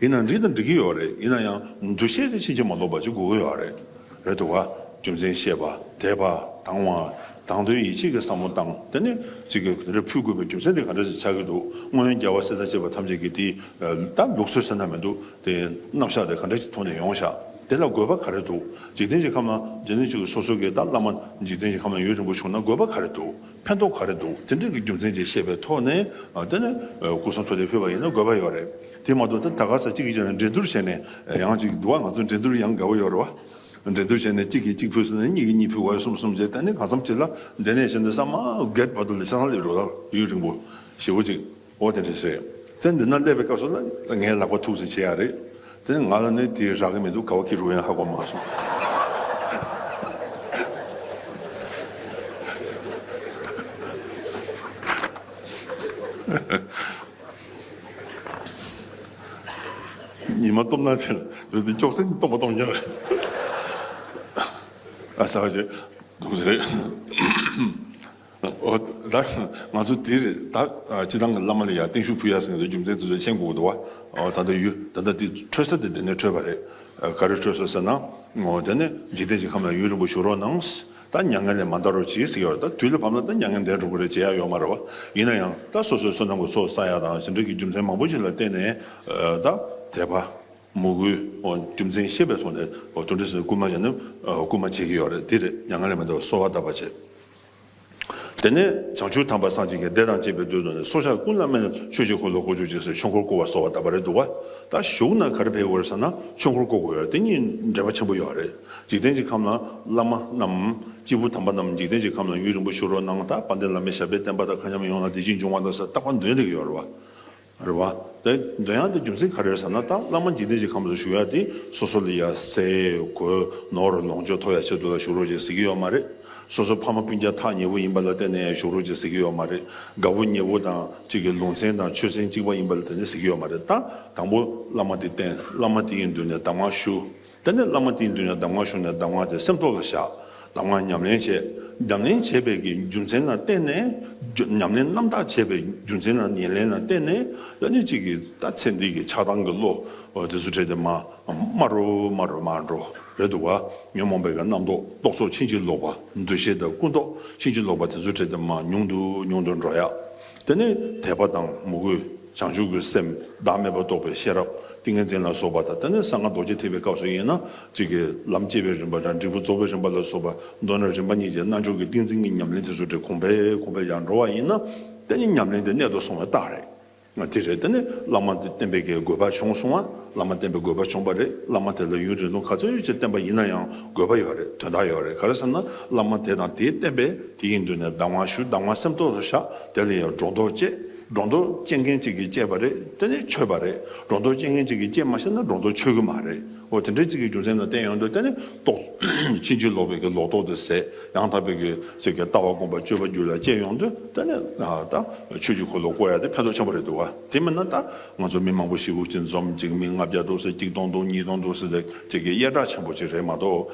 ཡིན་ན་འདྲི་དང་འདྲི་གི་ཡོད་རེད་ཡིན་ན་ཡང་འདུ་ཤེས་དེ་ཕྱིན་ཅི་མ་ལོག་པ་ཅིག་དགོས་ཀྱི་ཡོད་རེད་རེད་འདུག་ག་རྒྱུ་མཚན་བཤད་པ་དད་པ་དང་བ་དང་དོན་ཡིད་ཆེས་ཀྱི་བསམ་བློ་བཏང་དེ་ནས་ཅིག་གིས་དེ་འདྲ་ཕུལ་དགོས་པའི་རྒྱུ་མཚན་དེ་ག་འདྲ་ཞིག་ཆགས་ཀྱི་འདུག་སྔོན་རྒྱལ་བ་སྲས་དང་བཅས་པ་ཐམས་ཅད་ཀྱིས་དེ་ད་ལུགས་སྲོལ་ཟེར་ན་མི་འདུག་དེ་རྣམ་གཞག་དེ་ག་འདྲ་ཞིག་ཐོག་ནས་ཡོང་བཞག་དེ་ལ་དགོས་པ་ག་རེ་འདུག་འཇིག་རྟེན་གྱི་ཁམས་ན་འཇིག་རྟེན་གཅིག་གི་སོ་སོ་ཀྱི་ད་བླ་མ་འཇིག་རྟེན་གྱི་ཁམས་ན་ཡོད་རིང་པོ་བཞུགས་ན་དགོས་པ་ག་རེ་འདུག་ཕན་ཐོགས་ག་རེ་འདུག་དེ་འདྲ་གི་རྒྱུ་མཚན་ཅིག་ཤེས་པའི་ཐོག་ནས་དེ་ནི་སྐུ་སྲུང་ཚོ་ལས་ཕུལ་བ་ཡིན་ན་དགོས་པ་ཡོད་རེད་དེ་མ་གཏོགས་འདི་ད་ག་ས་གཅིག་གིས་ཀྱང་འགྲན་བསྡུར་བྱས་ནས་ཡང་ཅིག་འདུག་བ་ང་ཚོ་འགྲན་བསྡུར་ཡང་དགའ་བོ་ཡོད་རེད་བ། འགྲན་བསྡུར་བྱས་ནས་གཅིག་གིས་གཅིག་ཕུལ་སོང་ནས་གཉིས་ཀྱིས་གཉིས་ཕུལ་བ་གསུམ་གསུམ་བྱས་ད་ནི་གང་འཚམ་གཅིག་ལ་འདི་ནས་བྱས་འདི་ས་མ་བརྒལ་བར་དུ་ལས་ཆ་ཚང་སླེབས་རོགས་དང་ཡུན་རིང་པོ་ཞེ་བོ་ཅིག། འོ་དེ་འདྲ་རེད། དེ་འདི་ན་སླེབས་པའི་སྐབས་སུ་ལ་ངའི་ལག་པ་ཐུགས་བརྩེ་ཆེ་ཡ་རེད། དེ་ནས་ང་ལ་ནི་དེ་རག་གི་མི་འདུག་གའོ་ཁི་རུ་ཡང་ཧ་གོ་མ་སོང། ཉི་མ་སྟོབས་ན་ཆེ་ལ་འདི་ཅོག་ཙེ་ནི་སྟོང་པ་སྟོང་རྒྱག་རེད། ཨ་ས་ཀ་ཅེ། སྡུག་རེད། ཨོ་ད། ང་ཚོ་འདིར་ད་སྤྱི་དང་གི་བླ་མ་ལ་ཡར་བརྟན་ཞུ་ཕུལ་ཡག་སེང་གེ་རྒྱུ་མཚན་དེ་ཚོ་མཆན་འགོག་འདུག་བ། ད་ལྟ་ཡུ་ད་ད་འདི་འཕྲོད་ས་དེ་དེ་ནས་འཕྲོད་པ་རེད། ག་རེ་འཕྲོད་སོང་ཟེར་ན། ངོ་དེ་ནས་འཇིག་རྟེན་གྱི་ཁམས་ལ་ཡུན་རིང་པོ་བཞུགས་རོགས་གནང། ད་མྱ་ངན་ལས་མ་འདའ་རོགས་གྱིས་ཟེར་གྱི་ཡོད་རེད་ད་དུས་ལ་བབས་ན་ད་མྱ་ངན་འདས་འགྲོ་གི་རེད་ཅེས་ཡག་ཡོད་མ་རེད་བ། ཡིན་ན་ཡང་ད་སོ་སོའི་བསོད་ནམས་ཀྱི་ཚོགས་བསགས་ཡག་དང་ཟིན་བྲིས་ཀྱི་རྒྱུ་མཚན་མང་པོ་ཞིག་ལ་བརྟེན་ནས་ད་དད་པ། མོས་གུས། རྒྱུ་མཚན་ཤེས་པའི་ཐོག་ནས་དོན་འགྲེལ་ཟེར་ན་སྐུལ་མ་བྱས་ནས་སྐུལ་མ་བྱེད་ཀྱི་ཡོད་རེད་འདི་རེད་མྱ་ངན་ལས་མི་འདའ་བ་གསོལ་བ་གདབ་པ་བྱེད། དེ་ནས་བྱང་ཆུབ་དམ་པ་སངས་རྒྱས་ཀྱི་བདེ་དང་བཅས་པའི་དོད་དུ་ནི་སྲོག་ཆགས་ཀུན་ལ་སྨན་ལ་ཆོས་ཀྱི་འཁོར་ལོ་བསྐོར་བཅུག་ཅེས་སོགས་ཆོས་འཁོར་བསྐོར་བ་སོགས་བ་ད་བར་རེད་འདུག་བ་ད་བཞུགས་ན་ག་རེ་ཕེབས་དགོས་རེད་བསམ་ན་ཆོས་འཁོར་བསྐོར་དགོས་རེད་དེ་གཉིས་འབྲེལ་བ་ཆེན་པོ་ཡོད་བ་རེད་འཇིག་རྟེན་གྱི་ཁམས་ན་བླ་མ་རྣམས་སྐྱེས་བུ་དམ་པ་རྣམས་འཇིག་རྟེན་གྱི་ཁམས་ན་ཡུན་རིང་པོ་བཞུགས་རོགས་གནང་དང་དཔལ་ལྡན་བླ་མའི་ཞབས་པད་བརྟན་པ་དང་མཁའ་མཉམ་ཡོང་ན་བདེ་སྐྱིད་འབྱུང་བ་དང་སོགས་རྟག་པ་འདོན་རིགས་ཡོད་རེད་བ། རེད་བ། དེ་འདོད་ཡངས་དེ་རྒྱུ་མཚན་ག་རེར་ཟེར་ན་ཏཱ་བླ་མ་འཇིག་རྟེན་གྱི་ཁམས་སུ་བཞུགས་ཡ་དེ་སོ་སོ་ལ་ཡ་སེ་གོ་ནོར་ལོངས་སྤྱོད་ཐོབ་ཡ་ཆེད་དུ་ལ་བཞུགས་རོགས་ཀྱི་ཟེར་གྱི་ཡོད་མ་རེད། སོ་སོ་ཕ་མ་སྤུན་རྒྱ་ཐག་ཉེ་བོ་ཡིན་པ་ལ་བརྟེན་ནས་ཡ་བཞུགས་རོགས་ཀྱི་ཟེར་གྱི་ཡོད་མ་རེད། དགའ་བོ་ཉེ་བོ་དང་གཅིག་གི་ལུང་ཚན་དང་ཆོས་ཚན་གཅིག་པ་ཡིན་པ་ལ་བརྟེན་ནས་ཟེར་གྱི་ཡོད་མ་རེད་ད། དང་པོ་བླ་མ་དེ་བསྟེན་བླ་མ་དེ་ཡི་མདུན་ནས་གདམས་ངག་ཞུ། དེ་ནས་བླ་མ་དེའི་མདུན་ན་གདམས་ངག་ཞུ་ནས་གདམས་ངག་དེ་སེམས་ཐོག་ལ་བཞག་གདམས་ངག་ཉམས་ལེན་བྱས། ཉམས་ལེན་བྱས་པའི་གྱི་རྒྱུ་མཚན་ལ་བརྟེན་ནས། ཉམས་ལེན་རྣམ་དག་བྱས་པའི་རྒྱུ་མཚན་ལ་ཉེར་ལེན་ལ་བརྟེན་ནས་ཡང་ཉིན་གཅིག་གི་ལྟ་ཚེ་འདི་གི་ཆགས་སྡང་གི་བློ་དེ་སུ་བྲལ་ཏེ་མ་སྨྲ་རོ་སྨྲ་རོ་སྨྲ་འགྲོ་རེ་འདུག་བ། ཉོན་མོངས་པའི་གྱི་རྣམ་རྟོག་རྟོག་ཚོགས་ཕྱིན་ཅི་ལོག་པ་འདུ་ཤེས་དང་ཀུན་རྟོག་ཕྱིན་ཅི་ལོག་པ་དེ་སུ་བྲལ་ཏེ་མ་མྱོང་དུ་མྱོང་དུ་འགྲོ་ཡ། དེ་ནས་དད་པ་དང་མོས་གུས། བྱང་ཆུབ་ཀྱི་སེམས་བདག་མེད་པར་རྟོགས་པའི་ཤེས་རབ་ཏིང་ངེ་འཛིན་ལ་སོགས་པ་དང་ད་ནི་གསང་སྔགས་རྡོ་རྗེ་ཐེག་པའི་སྐབས་སུ་དབྱེ་ན། གཅིག་གིས་ལམ་སྐྱེ་བའི་རིམ་པ་དང་འབྲས་བུ་རྫོགས་པའི་རིམ་པ་ལ་སོགས་པ་མདོར་ན་རིམ་པ་གཉིས་ཀྱིས་རྣལ་འབྱོར་གྱི་ཏིང་འཛིན་གྱི་ཉམས་ལེན་དེ་ཚུལ་དེ་གོང་འཕེལ་གོང་འཕེལ་ཡར་འགྲོ་བ་ཡིན་ན། དེ་ནི་ཉམས་ལེན་དེ་གནད་དུ་སོང་བའི་རྟགས་རེད། དེ་རེད་དེ་ནི་བླ་མ་བསྟེན་པའི་དགོས་པ་བྱུང་སོང་ང་བླ་མ་བསྟེན་པའི་དགོས་པ་བྱུང་བ་རེད་བླ་མ་དེ་ལ་ཡུན་རིང་ཐུང་ག་ཚོད་ཡོད་ཅེས་བསྟེན་པ་ཡིན་ན་ཡང་དགོས་པ་ཡོད་རེད་དོན་དག་ཡོད་རེད་ག་རེ་ཟེར་ན་བླ་མ་དེ་དང་དེའི་བསྟེན་པས་དེ་ཡི་མདུན་ནས་བདག་དབང་ཞུ་བདག་དབང་སེམས་རྟོགས་སོ་བཞག་དེ་ལ་ཡང་སྒྲོ་འདོགས་བཅད། སྒྲོ་འདོགས་བཅད་མཁན་གཅིག་གིས་བཅད་པ་རེད་དེ་ནི་ཆོས་པ་རེད་སྒྲོ་འདོགས་བཅད་མཁན་གཅིག་གིས་བཅད་མ་ཤེས་ན་སྒྲོ་འདོགས་ཆོད་གི་མ་རེད་འོ་དེ་འདྲའི་གཅིག་གི་རྒྱུ་མཚན་དང་བསྟན་ཡོང་དུས་དེ་ནི་རྟོགས། ཕྱིན་ཅི་ལོག་པའི་གི་ལོག་རྟོགས་དེ་ཟད་ཡང་དག་པའི་གི་ཟེར་གི་ལྟ་བ་སྒོམ་པ་སྤྱོད་པ་རྒྱུད་ལ་བཅད་ཡོང་དུས་དེ་ནི་ད་ཆོས་ཀྱི་གོ་ལོག་བཀོལ་ཡ་དེ་ཕན་ཐོག་ཆེན་པོ་རེད་འདུག་ག་དེ་མིན་ན་ད་ང་ཚོ་མི་མང་པོ་ཞིག་དབུགས་གཅིག་འཛོམས་གཅིག་མིག་ལྔ་བརྒྱ་འདུག་ཟེར་གཅིག་སྟོང་འདུག་གཉིས་སྟོང་འདུག་ཟེར་དེ་གཅིག་གི་གཡས་དྲག་ཆེན་པོ་གཅིག་རེད་མ་གཏོགས་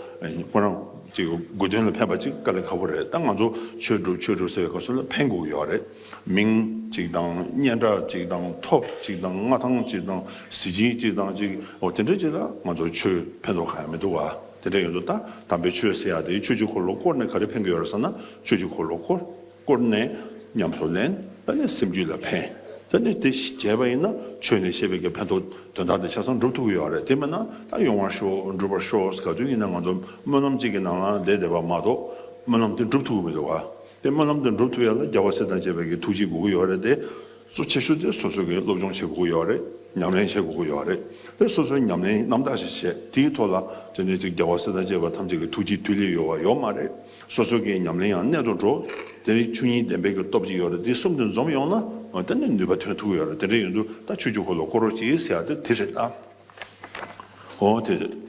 ཁོ་རང་གཅིག་དགོས་དོན་ལ་ཕན་པ་གཅིག་དཀའ་ལས་ཁག་པོ་རེད་ད་ང་ཚོ་ཆོས་སྒྲུབ་ཆོས་སྒྲུབ་ཟེར་བའི་ག་སུ་ལ་ཕན་དགོས་ཀྱི་ཡོད་རེད། མིང་གཅིག་དང་སྙན་གྲགས་གཅིག་དང་ཐོབ་གཅིག་དང་མངའ་ཐང་གཅིག་དང་གཟི་བྱིན་གཅིག་དང་གཅིག་འོ་དེ་འདྲ་ཅིག་ལ་ང་ཚོར་ཆོས་ཕན་ཐོག་ག་ཡང་མི་འདུག་བ་དེ་འདྲ་ཡོད་འདུག་ད་དམ་པའི་ཆོས་ཟེར་ཡག་དེ་ཆོས་ཀྱི་འཁོར་ལོ་བསྐོར་ནས་ག་རེ་ཕན་གྱི་ཡོད་རེད་ཟེར་ན་ཆོས་ཀྱི་འཁོར་ལོ་བསྐོར་བསྐོར་ནས་ཉམས་སུ་ལེན་ད་ནི་སེམས་རྒྱུད་ལ་ཕན་ད་ནི་དེ་བྱས་པ་ཡིན་ན་ཆོས་ནས་བཤད་པའི་ག་ཕན་ཐོག་དོན་དག་དེ་ཆ་ཚང་འགྲུབ་ཐུབ་ཀྱི་ཡོད་རེད་དེ་མེད་ན་ད་ཡོང་བར་ཤོག་འགྲུབ་པར་ཤོག་ག་དུས་ཡིན་ན་ང་ཚོ་སྨོན་ལམ་གཅིག་གི་ནང་ལ་བསྡད་བསྡད་པ་མ་གཏོགས་སྨོན་ལམ་དེ་འགྲུབ་ཐུབ་ཀྱི་མི་འདུག་བ། པའི་སྨོན་ལམ་དུ་འགྲུབ་ཐུབ་ཡ་ལ་རྒྱལ་བ་སྲས་དང་བཅས་པའི་གི་ཐུགས་རྗེ་དགོས་ཀྱི་ཡོད་རེད་དེ། གཙོ་ཆེ་ཤོས་དེ་སོ་སོས་གི་སློབ་སྦྱོང་བྱེད་དགོས་ཀྱི་ཡོད་རེད་ཉམས་ལེན་བྱེད་དགོས་ཀྱི་ཡོད་རེད་དེ་སོ་སོས་ཉམས་ལེན་རྣམ་དག་ཞིག་བྱེད་དེའི་ཐོག་ལ་དེ་ནས་ཅིག་རྒྱལ་བ་སྲས་དང་བཅས་པ་ཐམས་ཅད་གི་ཐུགས་རྗེ་མཐུ་ལེ་ཡོད་བ་ཡོད་མ་རེད་སོ་སོ་གི་ཉམས་ལེན་ཡང་གནད་དུ་འགྲོ་དེ་རིང་ཆུ་གཉིས་ལྡན་པའི་གི་སྟོབས་ཅིག་ཡོད་རེད་དེ་གསུམ་དེ་འཛོམས་ཡོང་ན་དེ་ནས་ནུས་པ་ཐོན་ཐུབ་ཀྱི་ཡོད་རེད་དེ་འདྲ་ཡིན་དུས་ད་ཆུ་རྒྱུག་ཁོ་ལ་བསྐོར་རོགས་ཅིག་ཟེར་ཡ་དེ་དེ་རེད་ད། ཨོ་དེ།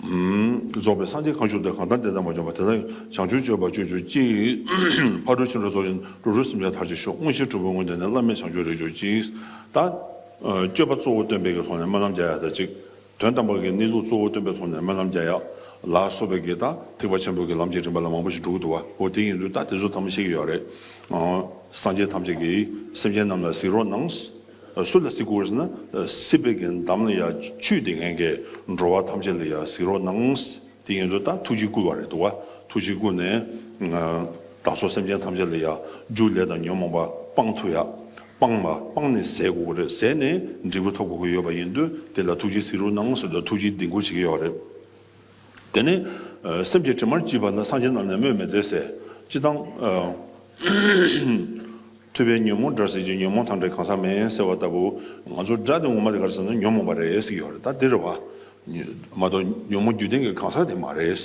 རྫོགས་པའི་སངས་རྒྱས་གང་བཞུགས་དེ་གང་དང་དེ་དང་མ་འབྱོངས་པ་དེ་དག་བྱང་ཆུབ་སྤྱོད་པ་སྤྱོད་གྱུར་ཅིག། ཕ་གྲུ་ཆེན་པོ་རྫོགས་ཆེན་གྲུ་རུ་སེམས་ཅན་མཐར་བྱེད་ཤོག་དངོས་གཞིའི་གྲུ་བོ་དངོས་བསྟན་ནི་བླ་མེད་བྱང་ཆུབ་རེག་གྱུར་ཅིག། ད། སྤྱོད་པ་གཙོ་བོ་སྟོན་པས་ཀྱི་ཐོག་ནས་སྨོན་ལམ་རྒྱ་ཡག་ད་ཅིག། དོན་དམ་པར་གྱི་གནས་ལུགས་གཙོ་བོ་སྟོན་པའི་ཐོག་ནས་སྨོན་ལམ་རྒྱ་ཡག། ལ་སོགས་པས་ཀྱི་ད་ཐེག་པ་ཆེན་པོ་ཀྱི་ལམ་གྱི་རིམ་པ་ལ་མང་པོ་ཞིག་འགྲུག་འདུག་བ་འོ་དེ་ཡིན་དུས་ད་དེ་ཚོ་ཐམས་ཤེས་ཀྱི་ཡོག་རེད། སངས་རྒྱས་ཐམས་ཅད་ཀྱིས་སེམས་ཅན་རྣམས་ལ་གཟིགས་རོགས་གནང། སུ་ལ་གཟིགས་དགོས་ཟེར་ན་སྲིད་པའི་གྱི་འདམ་ལ་ཡང་ཆུད་དེ་ངན་གྱི་འགྲོ་བ་ཐམས་ཅད་ལ་ཡང་གཟིགས་རོགས་གནང། དེ་ཡིན་དུ་ད་ཐུགས་རྗེ་བསྐུལ་བ་རེད་འདུག་ཐུགས་རྗེ་བསྐུལ་ནས་བདག་སོགས་སེམས་ཅན་ཐམས་ཅད་ལ་ཡང་རྒྱུ་ལས་དང་ཉོན་མོངས་པ་སྤང་ཐུབ་ཡ་སྤང་བ་སྤང་ནས་ཟད་དགོས་ཀྱི་རེད་ཟད་ནས་འབྲས་བུ་ཐོབ་དགོས་ཀྱི་ཡོད་པ་ཡིན་དུས་དེ་ལ་ཐུགས་རྗེ་གཟིགས་རོགས་གནང་ཟེར་དུ་ཐུགས་རྗེ་འདི་འཁུར་བྱེད་ཀྱི་ཡོད་རེད། དེ་ནས་སེམས་ཀྱི་དྲི་མར་བཅིབས་པ་ལ་སངས་རྒྱས་རྣམས་ནི་སྨོད་མི་མཛད་ཟེར། ཅི་སྟངས། ཐོས་པའི་ཉོན་མོངས་དགྲར་ཟེར་གྱི་ཉོན་མོངས་ཐང་དྲེད་གང་ཟག་མེད་ཟེར་བ་ལྟ་བུ། ང་ཚོ་དགྲ་དེ་ངོ་མ་དེ་གར་ཟེར་ན་ཉོན་མོངས་པ་རེད་ཟེར་གྱི་ཡོད་རེད་ད་འདིར། མ་གཏོགས་ཉོན་མོངས་རྒྱུ་ལྡན་གྱི་གང་ཟག་དེ་མ་རེད།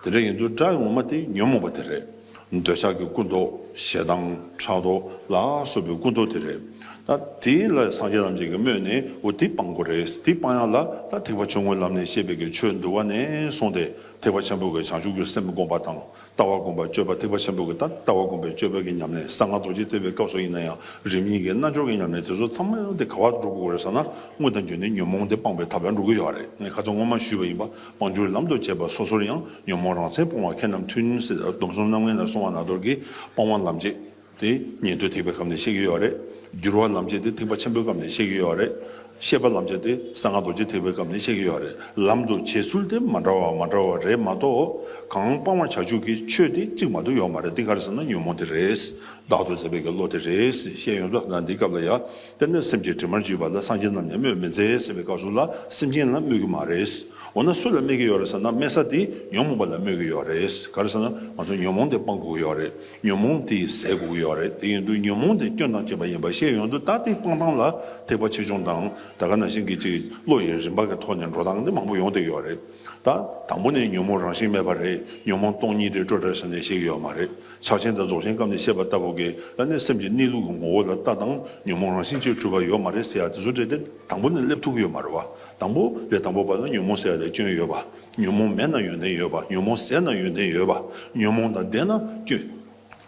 དེ་འདྲ་ཡིན་དུས་དགྲ་ངོ་མ་དེ་ཉོན་མོངས་པ་དེ་རེད། འདོད་ཆགས་ཀྱི་ཀུན་རྟོག་ཞེ་སྡང་ཕྲག་དོག་ལ་སོགས་པའི་ཀུན་རྟོག་དེ་རེད། ད་དེ་ལ་སངས་རྒྱས་ཐམས་ཅད་ཀྱིས་སྨོས་ནས་འོ་དེ་སྤང་དགོས་རེད་དེ་སྤང་ཡག་ལ་ད་ཐེག་པ་ཆུང་ངུའི་ལམ་ནས་བཤད་པའི་གི་ཆོས་འདུལ་བ་ནས་བཟུང་སྟེ་ཐེག་པ་ཆེན་པོ་གི་བྱང་ཆུབ་ཀྱི་སེམས་བསྒོམ་པ་དང་ལྟ་བ་བསྒོམ་པ་སྤྱོད་པ་ཐེག་པ་ཆེན་པོ་གི་ད་ལྟ་བ་བསྒོམ་པའི་སྤྱོད་པ་གི་ཉམས་ལེན་གསང་སྔགས་རྡོ་རྗེ་ཐེག་པའི་སྐབས་སུ་ཡིན་ན་ཡང་རིམ་གཉིས་ཀྱི་རྣལ་འབྱོར་གྱི་ཉམས་ལེན་དེ་ཚོ་ཚང་མ་ཡོང་སྟེ་ག་བར་འགྲོ་དགོས་རེད་བསམ་ན་དངོས་དང་བརྗོད་ནས་ཉོན་མོངས་དེ་སྤང་པའི་ད་བར་འགྲོ་གི་ཡོད་རེད་ངས་ཁ་ཚོན་ངོ་མ་ཞུས་པ་ཡིན་པ། དབང་སྒྱུར་ལམ་དུ་བྱེད་པ་སོ་སོར་ཡང་ཉོན་མོངས་རང་མཚན་སྤོང་བ་ཁྱེད་རྣམས་ཐུན་མོང་སྲིད་སྡོམ་གསུམ་རྣམ་ལྔའི་ནར་སོང་བ་ནག་འདོར་གྱི་སྤང་བ་ལམ་བྱེད་དེ་ཉན་ཐོས་ཐེག་པའི་སྐབས་ནས་བཤད་ཀྱི་ཡོད་རེད། སྒྱུར་བ་ལམ་བྱེད་དེ་ཐེག་པ་ཆེན་པོའི་སྐབས་ནས་བཤད་ཀྱི་ཡོད་རེད། ཤེས་པ་ལམ་བྱེད་དེ་གསང་སྔགས་རྡོ་རྗེ་ཐེག་པའི་སྐབས་ནས་བཤད་ཀྱི་ཡོད་རེད། ལམ་དུ་བྱེད་ཚུལ་དེ་མ་འདྲ་བ་མ་འདྲ་བ་རེད་མ་གཏོགས་གང་སྤང་བར་བྱ་ཆོག་གི་ཆོས་དེ་གཅིག་མ་གཏོགས་ཡོད་མ་རེད་འདི་ག་རེ་ཟེར་ན་ཉོན་མོངས་དེ་རེད་བདག་ཏུ་བཟད་པའི་གི་བློ་དེ་རེད་ཞེས་ཡོངས་རྫོགས་ཟླ་འདིའི་སྐབས་ལ་ཡ། དཔེར་ན་སེམས་ཀྱི་དྲི་མར་འཇིགས་པ་ལ་སངས་རྒྱས་རྣམས་ནས་སྨོད་མི་མཛད་ཟེར་བའི་བཀའ་སྲུང་ལ་སེམས་ཅན་ལ་སྨོད་ཀྱི་མ་རེད། འོ་ན་སུ་ལ་སྨད་ཀྱི་ཡོད་རེད་ཟེར་ན་སྨད་ས་དེ་ཉོན་མོངས་པ་ལ་སྨོད་ཀྱི་ཡོད་རེད། ག་རེ་ཟེར་ན་ང་ཚོ་ཉོན་མོངས་དེ་སྤང་དགོས་ཀྱི་ཡོད་རེད། ཉོན་མོངས་དེ་ཟད་དགོས་ཀྱི་ཡོད་རེད་དེ་ཡིན་དུས་ཉོན་མོངས་དེ་སྐྱོན་དང་བཅས་པ་ཡིན་པ་ཤེས་ཡོང་དུས་ད་ལྟའི་སྤང་སྟངས་ལ་ཐེག་པ་ཆེ་ཆུང་དང་ད་ག་ན་བཞིན་གྱི་ཅིག་བློ་ཡི་རིམ་པ་གི་ཐོག་ནས་འགྲོ་སྟངས་དེ་མང་པོ་ཡོང་བསྡད་ཡོད་རེད། ད་དང་པོ་ནས་ཉོན་མོངས་རང་བཞིན་མེད་པ་རེད་ཉོན་མོངས་སྟོང་ཉིད་རེད་སྤྲོ་བྲལ་ཟེར་ནས་བཤད་ཀྱི་ཡོད་མ་རེད། ཕྱག་ཆེན་དང་རྫོགས་ཆེན་སྐབས་ནས་བཤད་པ་ལྟ་བུ་གས་ལ་ནི་སེམས་ཀྱི་གནས་ལུགས་ཀྱི་ངོ་བོ་ལ་ལྟ་དང་ཉོན་མོངས་རང་བཞིན་གཅིག་འཁྲུལ་པ་ཡོད་མ་རེད་ཟེར་ཡག་དེ་ཚོ་འདྲེས་ཏེ་དང་པོ་ནས་སླེབས་ཐུབ་ཀྱི་ཡོད་མ་རེད་བ། དང་པོ་ལས་དང་པོ་བར་ན་ཉོན་མོངས་ཟད་ལས་སྐྱོན་ཡོད་བ། ཉོན་མོངས་མེད་ན་ཡོན་ཏན་ཡོད་བ་ཉོན་མོངས་ཟད་ན་ཡོན་ཏན་ཡོད་བ། ཉོན་མོངས་དང་ལྡན་ན་སྐྱོན།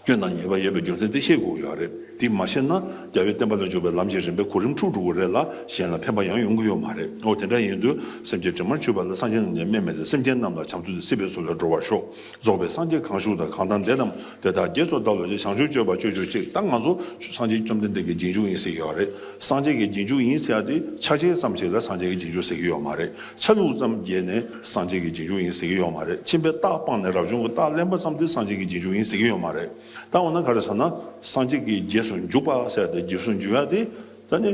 སྐྱོན་དང་ཉེས་པ་ཡོད་པའི་རྒྱུ་མཚན་དེ་ཤེས་དགོས་ཀྱི་ཡོད་རེད་དེ་མ་ཤེས་ན་རྒྱ་བོད་བསྟན་པ་ལ་འཇུག་པའི་ལམ་གྱི་རིམ་པའི་གོ་རིམ་འཁྲུག་འགྲོ་གི་རེད་ལ་གཞན་ལ་ཕན་པ་ཡང་ཡོང་གི་ཡོད་མ་རེད་འོ་དེ་འདྲ་ཡིན་དུས་སེམས་ཀྱི་དྲི་མར་ཆུད་པ་ལ་སངས་རྒྱས་རྣམས་ཀྱང་སྨད་མེད་དེ་སེམས་ཅན་རྣམས་ལ་བྱམས་བརྩེ་དང་སྲིད་པའི་སྲོལ་ལ་འགྲོ་བར་ཤོག་རྫོགས་པའི་སངས་རྒྱས་གང་བཞུགས་དང་གང་དམ་འདས་རྣམས་དེ་དག་རྗེས་སུ་བདག་བློ་ཅན་བྱང་ཆུབ་སྤྱོད་པ་སྤྱོད་གྱུར་ཅིག་ད་ང་ཚོ་སངས་རྒྱས་བཅོམ་ལྡན་འདས་ཀྱི་རྗེས་འཇུག་ཡིན་ཟེར་གྱི་ཡོད་རེད་སངས་རྒྱས་ཀྱི་རྗེས་འཇུག་ཡིན་ཟེར་ཏེ་ཆ་ཆེན་ཙམ་ཞིག་ལ་སངས་རྒྱས་ཀྱི་རྗེས་འཇུག་ཟེར་གྱི་ཡོད་མ་རེད་ཆ་ལུགས་ཙམ་རྒྱས་ནས་སངས་རྒྱས་ཀྱི་རྗེས་འཇུག་ཡིན་ཟེར་གྱི་ཡོད་མ་རེད་ཕྱིན་པའི་རྟགས་སྤངས་ནས་རབ་བྱུང་གི་རྟགས་གླེང་པ་ཙམ་དེ་སངས་རྒྱས་ཀྱི་རྗེས་འཇུག་ཡིན་ཟེར་གྱི་ཡོད་མ་རེད་ད་འོ་ན་ག་རེ་ཟེར་ན་སངས་རྒྱས་ཀྱི་རྗེས་སུ་འཇུག་པ་ཟེར་ཏེ་རྗེས་སུ་འཇུག་ཡ་དེ་ད་ནི་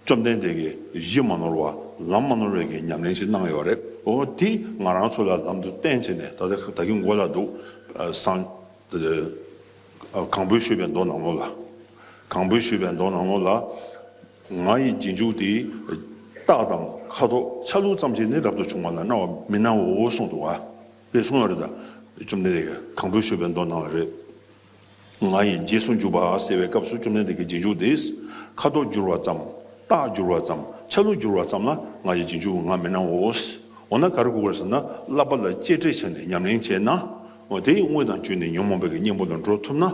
བཅོམ་ལྡན་འདས་ཀྱིས་གཞི་མ་ནོར་བ་ལམ་མ་ནོར་བའི་གྱི་ཉམས་ལེན་ཞིག་གནང་ཡོད་རེད་ཨོ། དེ་ང་རང་ཚོ་ལ་ལམ་དུ་བསྟན་བྱས་ནས་ད་ལྟ་ད་གིན་མགོ་ལ་འདུག་སང། གངས་བོད་ཤོད་པའི་མདོ་ནང་ལོ་ལ། གངས་བོད་ཤོད་པའི་མདོ་ནང་ལོ་ལ། ང་ཡི་རྗེས་འཇུག་དེ། རྟགས་དང་ཁ་དོག་ཆ་ལུགས་ཙམ་ཞིག་ནི་རབ་ཏུ་བྱུང་བ་ལ་སྣང་བ་མི་སྣང་བའོ་གསུངས་འདུག་བ། དཔེ་གསུངས་ཡོད་རེད་ད། བཅོམ་ལྡན་འདས་ཀྱིས་གངས་བོད་ཤོད་པའི་མདོ་ནང་ལ་རེད། ང་ཡིས་རྗེས་སུ་འཇུག་པ་ཟེར་བའི་སྐབས་སུ་བཅོམ་ལྡན་འདས་ཀྱིས་རྗེས་འཇུག་དེས་ཁ་དོག་བསྒྱུར་བ་ཙམ། རྟགས་བསྒྱུར་བ་ཙམ། ཆ་ལུགས་བསྒྱུར་བ་ཙམ་ལ་ང་ཡི་རྗེས་འཇུག་ངང་མི་སྣང་ངོ། འོ་ན་གར་གོ་དགོས་ཟེར་ན་བསླབ་པ་ལ་གཅེས་སྤྲས་བྱས་ནས་ཉམས་ལེན་བྱས་ན། དེ་ཡི་དངོས་དང་བཅུད་ནི་ཉོན་མོངས་པའི་གཉེན་པོ་ལ་འགྲོ་ཐུབ་ན།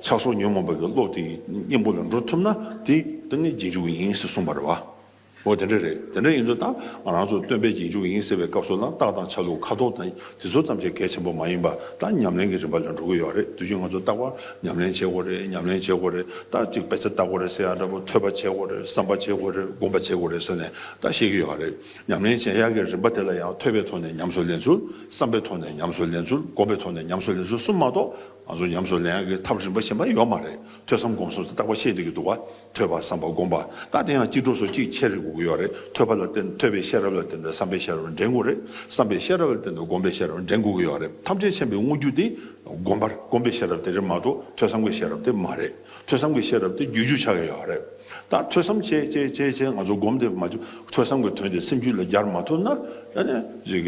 ཆགས་སོགས་ཉོན་མོངས་པའི་བློ་དེ་ཡི་གཉེན་པོ་ལ་འགྲོ་ཐུབ་ན་དེ་ནི་རྗེས་འཇུག་ཡིན་ཞེས་གསུངས་པར་བ། འོ་དེ་འདྲ་རེད་དེ་འདྲ་ཡིན་དུས་ད་ང་རང་ཚོ་སྟོན་པའི་རྗེས་འཇུག་ཡིན་ཟེར་བའི་སྐབས་སུ་ལ་རྟགས་དང་ཆ་ལུགས་ཁ་དོག་དང་དེ་ཚོ་ཙམ་གྱིས་གལ་ཆེན་པོ་མ་ཡིན་པར་རྟགས་ཉམས་ལེན་གྱི་རིམ་པ་ལ་འགྲོ་གི་ཡོད་རེད་དུས་ཀྱི་ང་ཚོ་རྟག་པར་ཉམས་ལེན་བྱེད་དགོས་རེད་ཉམས་ལེན་བྱེད་དགོས་རེད་རྟགས་གཅིག་བེད་སྤྱད་བལྟ་དགོས་རེད་ཟེར་ཡག་འདྲ་པོ་ཐོས་པ་བྱེད་དགོས་རེད་བསམ་པ་བྱེད་དགོས་རེད་སྒོམ་པ་བྱེད་དགོས་རེད་ཟེར་ནས་རྟགས་ཤེས་ཀྱི་ཡོད་རེད་ཉམས་ལེན་བྱེད་ཡག་གི་རིམ་པ་དེ་ལ་ཡང་ཐོས་པའི་ཐོག་ནས་ཉམས་སུ་ལེན་ཚུལ་བསམ་པའི་ཐོག་ནས་ཉམས་སུ་ལེན་ཚུལ་སྒོམ་པའི་ཐོག་ནས་ཉམས་སུ་ལེན་ཚུལ་གསུམ་མ་གཏོགས་ང་ཚོ་ཉམས་སུ་ལེན་ཡག་གི་ཐབས་རིམ་པ་གཞན་པ་ཡོད་མ་རེད་ཐོས་བསམ་སྒོམ་གསུམ་དེ་རྟག་པར་ཤེས་བསྡད་ཀྱི་འདུག་བ། ཐོས་པར་བསམ་པ་བསྒོམ་པ་དང་དེ་ཡང་སྤྱི་སྒྲོ་སོ་གཅིག་ཕྱེད་རེ་དགུ་ཡོད་རེད་ཐོས་པ་ལ་བརྟེན་ཐོས་པའི་ཤེས་རབ་ལ་བརྟེན་ཏེ་བསམ་པའི་ཤེས་རབ་ལ་འགྲན་དགུ་རེད་བསམ་པའི་ཤེས་རབ་ལ་བརྟེན་ཏེ་བསྒོམ་པའི་ཤེས་རབ་ལ་འགྲན་དགུ་གི་ཡོད་རེད་ཐམས་ཅད་མཁྱེན་པའི་དངོས་རྒྱུ་དེ་བསྒོམ་པར་བསྒོམ་པའི་ཤེས་རབ་དེ་རེད་མ་གཏོགས་ཐོས་བསམ་གྱི་ཤེས་རབ་དེ་མ་རེད་ཐོས་བསམ་གྱི་ཤེས་རབ་དེ་རྒྱུད་ཅུ་ཆགས་ཀྱི་ཡོད་རེད་ད་ཐོས་བསམ་བྱས་བྱས་བྱས་བྱས་ང་ཚོ་བསྒོམ་དེ་མ་ཐོས་བསམ་གྱི་དོན་དེ་སེམས་རྒྱུད་ལ་སྦྱར་མ་ཐུབ་ན་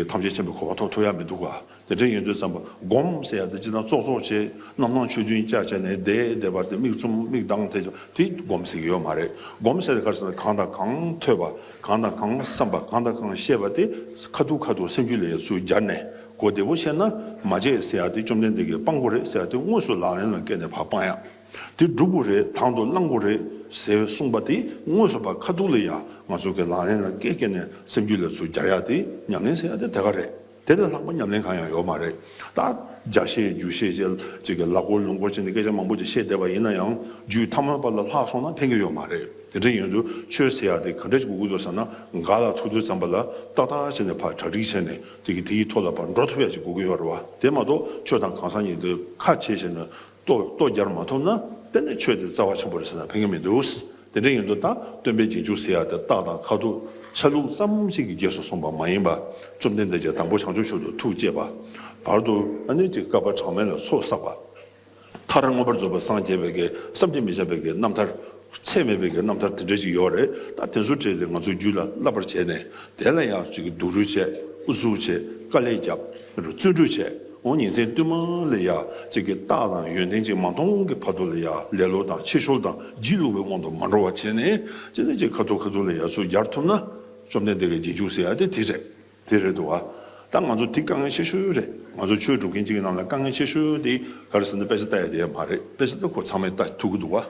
ཐམས་ཅད་མཁྱེན་པའི་གོ་བ་ཐོབ་ཐུབ་ཡ་མི་འདུག་ག་དེ་དྲན་ཡོད་དུས་བརྩམས་པ་བསྒོམ་ཟེར་ཡག་དེ་ཅི་དང་ཙོག་ཙོག་བྱེད་རྣམ་སྣང་ཆོས་བདུན་སྐྱ་བྱས་ནས་བསྡད་བསྡད་པ་དེ་མིག་བཙུམ་མིག་གདངས་ཐད་ཀྱང་དེ་བསྒོམ་ཟེར་གྱི་ཡོད་མ་རེད་བསྒོམ་ཟེར་གར་ཟེར་ན་གང་དང་གང་ཐོས་པ་གང་དང་གང་བསམས་པ་གང་དང་གང་ཤེས་པ་དེ་ཁ་ཐུག་ཁ་ཐུག་སེམས་རྒྱུད་ལས་ཡོད་ཚུལ་སྦྱར་ནས་གོ་བདེ་པོ་བཤད་ན་མ་བརྗེད་ཟེར་ཡག་དེ་བཅོམ་ལྡན་འདས་ཀྱི་དཔང་པོ་རེད་ཟེར་ཡག་དེ་དངོས་སུ་ལག་ལེན་ལ་བཀལ་ནས་བར་སྤངས་ཡག་དེ་སྒྲུབ་དགོས་རེད་དང་དུ་བླང་དགོས་རེད་ཟེར་གསུངས་པ་དེ་དངོས་སུ་བར་ཁ་ཐུག་ལ་ཡག་ང་ཚོ་གི་ལག་ལེན་ལ་བཀལ་བཀལ་ནས་སེམས་རྒྱུད་ལས་ཚུལ་སྦྱར་ཡག་དེ་ཉམས་ལེན་ཟེར་ཡག་དེ་དེ་ག་རེད། དེ་ལས་ལྷག་པ་ཉམས་ལེན་གང་ཡང་ཡོད་མ་རེད་ད། རྒྱ་བཤད་རྒྱུ་བཤད་ཅེས་ཀྱི་ལ་སྐོར་ལུང་སྐོར་བྱས་ནས་སྐད་ཆ་མང་པོ་ཅིག་བཤད་བསྡད་པ་ཡིན་ན་ཡང་རྒྱུད་ཐ་མལ་པ་ལ་ལྷག་སོང་ན་ཕན་གྱི་ཡོད་མ་རེད་དེ་འདྲ་ཡིན་དུས་ཆོས་ཟེར་ཡག་དེ་ག་འདྲ་ཞིག་དགོས་ཀྱི་འདུག་ཟེར་ན་འགའ་ལ་ཐུག་དུས་ཙམ་པ་ལ་ཏག་ཏག་བྱས་ནས་ཕར་གྲ་སྒྲིག་བྱས་ནས་དེ་གི་དེ་ཡི་ཐོག་ལ་ཕར་འགྲོ་ཐུབ་ཡག་ཅིག་དགོས་ཀྱི་ཡོད་རེད་བ་དེ་མ་གཏོགས་ཆོས་དང་གང་ཟག་གཉིས་དེ་ཁ་ཕྱེ་བྱས་ན། ལྟོས་རྒྱར་མ་ཐོབ་ན་དཔེར་ན་ཆོས་དེ་རྩ་བ་ཆེན་པོ་རེད་ཟེར་ན་ཕན་ཀྱི་མི་འདུག་དེ་འདྲ་ཡིན་དུ་ད་སྟོན་པའི་རྗེས་འཇུག་ཟེར་ཡག་དེ་རྟགས་དང་ཁ་ཐུག་ཆ་ལུགས་ཙམ་ཞིག་གི་རྗེས་སུ་སོང་བ་མ་ཡིན་པ་བཅོམ་ལྡན་འདས་ཀྱིས་དང་པོ་བྱང་ཆུབ་ཤོར་དུ་ཐུགས་བསྐྱེད་པ་བར་དུ་ཨ་ནུའི་ཏི་ཀ་པ་གྲངས་མེད་ལ་ཚོགས་བསགས་པ་མཐར་མངོན་པར་རྫོགས་པའི་སངས་རྒྱས་པའི་གེགས་བསམ་གྱིས་མི་ཁྱབ་པའི་གེགས་རྣམ་ཐར་ཚད་མེད་པའི་གི་རྣམ་ཐར་དེ་འདྲ་ཞིག་ཡོད་རེད་ད་དེ་ཚོ་བྲིས་ཏེ་ང་ཚོ་རྒྱུད་ལ་བསླབ་པར་བྱས་ནས་དེ་ལ་ཡང་ཅིག་སྡུག་རུས་བྱས་ཨུ་ཚུགས་བྱས་དཀའ་ལས་བརྒྱབ་དེ་རུ་བརྩོན་འགྲུས་བྱས་འོང་ཉིན་མཚན་བསྟུད་མར་ལ་ཡང་ཅིག་གི་རྟགས་དང་ཡོན་ཏན་ཅིག་མ་མཐོང་གི་བར་དུ་ལ་ཡང་ལེ་ལོ་དང་ཕྱི་ཤོར་དང་སྒྱིད་ལུག་པའི་དབང་དུ་མ་འགྲོ་བར་བྱས་ནས་ཅི་ནས་ཅིག་ཁ་ཐུག་ཁ་ཐུག་ལ་ཡང་ཚུར་གྱར་ཐུབ་ན་བཅོམ་ལྡན་འདས་ཀྱི་རྗེས་འཇུག་ཟེར་ཡ་དེ་དེ་རེད། དེ་རེད་འདུག་ཨ། ད་ང་ཚོ་དེ་དཀའ་ངལ་ཆེ་ཤོས་རེད། ང་ཚོ་ཆོས་སྒྲུབ་མཁན་གཅིག་གི་ནང་ལ་དཀའ་ངལ་ཆེ་ཤོས་དེ་ག་རེ་ཟེར་ན་དཔེ་ཆ་ལྟ་ཡ་དེ་ཡ་མ་རེད་དཔེ་ཆ་ལྟ་ཁོ་ཚང་མས་ལྟ་ཐུབ་ཀྱི་འདུག་ཨ།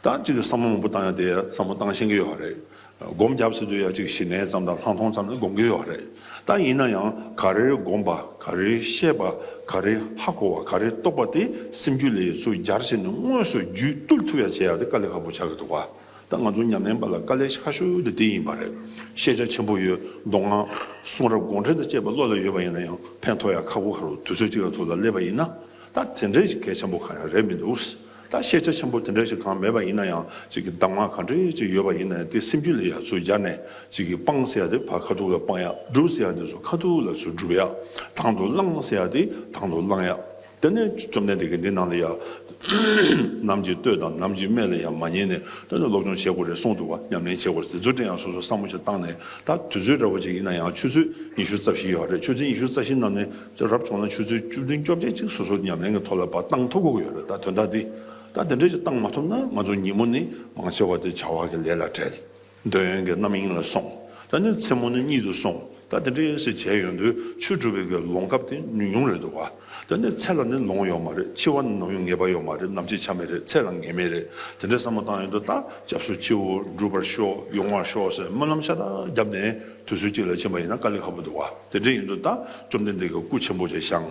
ད་ཅིག་ལ་བསམ་བློ་མང་པོ་བཏང་ཡ་དེ་ཡ་བསམ་བློ་བཏང་ཤེས་ཀྱི་ཡོད་རེད། སྒོམ་རྒྱབ་ཟེར་དུས་ཡ་ཅིག་ཞི་གནས་ཙམ་དང་ལྷག་མཐོང་ཙམ་ནས་སྒོམ་གྱི་ཡོད་རེད། ད་ཡིན་ན་ཡང་ག་རེ་སྒོམ་པ་ག་རེ་ཤེས་པ་ག་རེ་ཧ་གོ་བ་ག་རེ་རྟོགས་པ་དེ་སེམས་རྒྱུད་ལས་སུ་སྦྱར་བྱས་ནས་དངོས་སུ་རྒྱུད་བཏུལ་ཐུབ་ཡ་བྱས་ཡ་དེ་དཀའ་ལས་ཧ་པོ་ཆགས་ཀྱི་འདུག་ཨ། ད་ང་ཚོ་ཉམས་ལེན་པ་ལ་དཀའ་ལས་ཆགས་ཤོས་དེ་འདི་ཡིན་པ་རེད། ཤེས་བྱ་ཆེན་པོ་ཡོད་མདོག་ངང། གསུང་རབ་དགོངས་འགྲེལ་དང་བཅས་པ་བློ་ལ་ཡོད་པ་ཡིན་ན་ཡང་ཕན་ཐོགས་ཡག་ཁ་ཁུ་ཁ་རུ་དུས་ཚོད་ཅིག་ལ་ཐུག་ལ་སླེབས་པ་ཡིན་ན། ད་དེ་འདྲའི་ཞིག་གལ་ཆེན་པོ་གང་ཡང་རེད་མི་འདུག། ད་ཤེས་བྱ་ཆེན་པོ་དེ་འདྲའི་ཞིག་གང་མེད་པ་ཡིན་ན་ཡང་ཅིག་གི་གདམས་ངག་གང་འདྲའི་ཅིག་ཡོད་པ་ཡིན་ན་ཡང་དེ་སེམས་རྒྱུད་ལ་ཡར་ཚུར་སྦྱར་ནས་ཅིག་གི་སྤང་ཟེར་ཡག་དེ་བར་ཁ་ཐུག་ལ་སྤང་ཡག་སྒྲུབ་ཟེར་ཡག་དེ་ཚུར་ཁ་ཐུག་ལ་ཚུར་སྒྲུབ་ཡག་དང་དུ་བླང་ཟེར་ཡག་དེ་དང་དུ་བླང་ཡག། དེ་ནས་བཅོམ་ལྡན་འདས་ཀྱིས་འདི་རྣམས་ལ་ཡང། ནམ་གྱིས་ལྟོས་དང་ནམ་གྱིས་སྨྲས་ལ་ཡང་མ་ཉན་ནས་ལྟོས་ན་སློབ་སྦྱོང་བྱེད་དགོས་རེད་གསུངས་འདུག་པ་ཉམས་ལེན་བྱེད་དགོས་རེད་དེ་ཚོ་དེ་ཡང་སོ་སོར་བསམ་བློ་ཞིག་བཏང་ནས་ད་དུས་ཚོད་རེ་བ་ཅིག་ཡིན་ན་ཡང་ཆུ་ཚོད་ཉི་ཤུ་རྩ་བཞི་ཡོད་རེད་ཆུ་ཚོད་ཉི་ཤུ་རྩ་བཞི་རྣམས་ནས་རབ་བྱུང་ན་ཆུ་ཚོད་བཅུ་བདུན་བཅོ་བརྒྱད་ཅིག་སོ་སོར་ཉམས་ལེན་གྱི་ཐོག་ལ་བ་བཏང་ཐུབ་དགོས་ཀྱི་ཡོད་རེད་ད་དོན་དག་འདི་ད་དེ་འདྲས་ཅིག་བཏང་མ་ཐུབ་ན་ང་ཚོ་ཉིན་མོ་ནི་མང་ཆེ་བ་དེ་བྱ་བ་གྱི་ལས་ལ་བྲེལ། འདོད་ཡོན་གྱི་རྣམ་གཡེང་ལ་སོང། ད་ནི་མཚན་མོ་ནི་གཉིད་དུ་སོང། ད་དེ་འདྲའི་ཟེར་བྱས་ཡོད་དུས་ཆོས་སྒྲུབ་པའི་གི་ལོང་སྐབས་དེ་ཉུང་ཉུང་རེད་འདུག་ག། ད་ནི་ཚེ་ལ་ནི་ལོང་ཡོད་མ་རེད་འཆི་བ་ནི་ནམ་ཡང་ངེས་པ་ཡོད་མ་རེད་ནམ་འཆི་ཆ་མེད་རེད་ཚེ་ལ་ངེས་མེད་རེད་དེ་འདྲའི་བསམ་བློ་བཏང་ཡོད་དུས་ད་སྐྱབས་སུ་མཆིའོ་འགྲུབ་པར་ཤོག་ཡོང་བར་ཤོག་ཟེར་སྨོན་ལམ་ཤ་སྟག་བརྒྱབ་ནས་དུས་ཚོད་གཅིག་ལ་ཕྱིན་པ་ཡིན་ན་དཀའ་ལས་ཁ་པོ་འདུག་ག་དེ་འདྲས་ཡིན་དུས་ད་བཅོམ་ལྡན་འདས་ཀྱི་སྐུ་ཆེན་པོ་ཆེ་ཞང་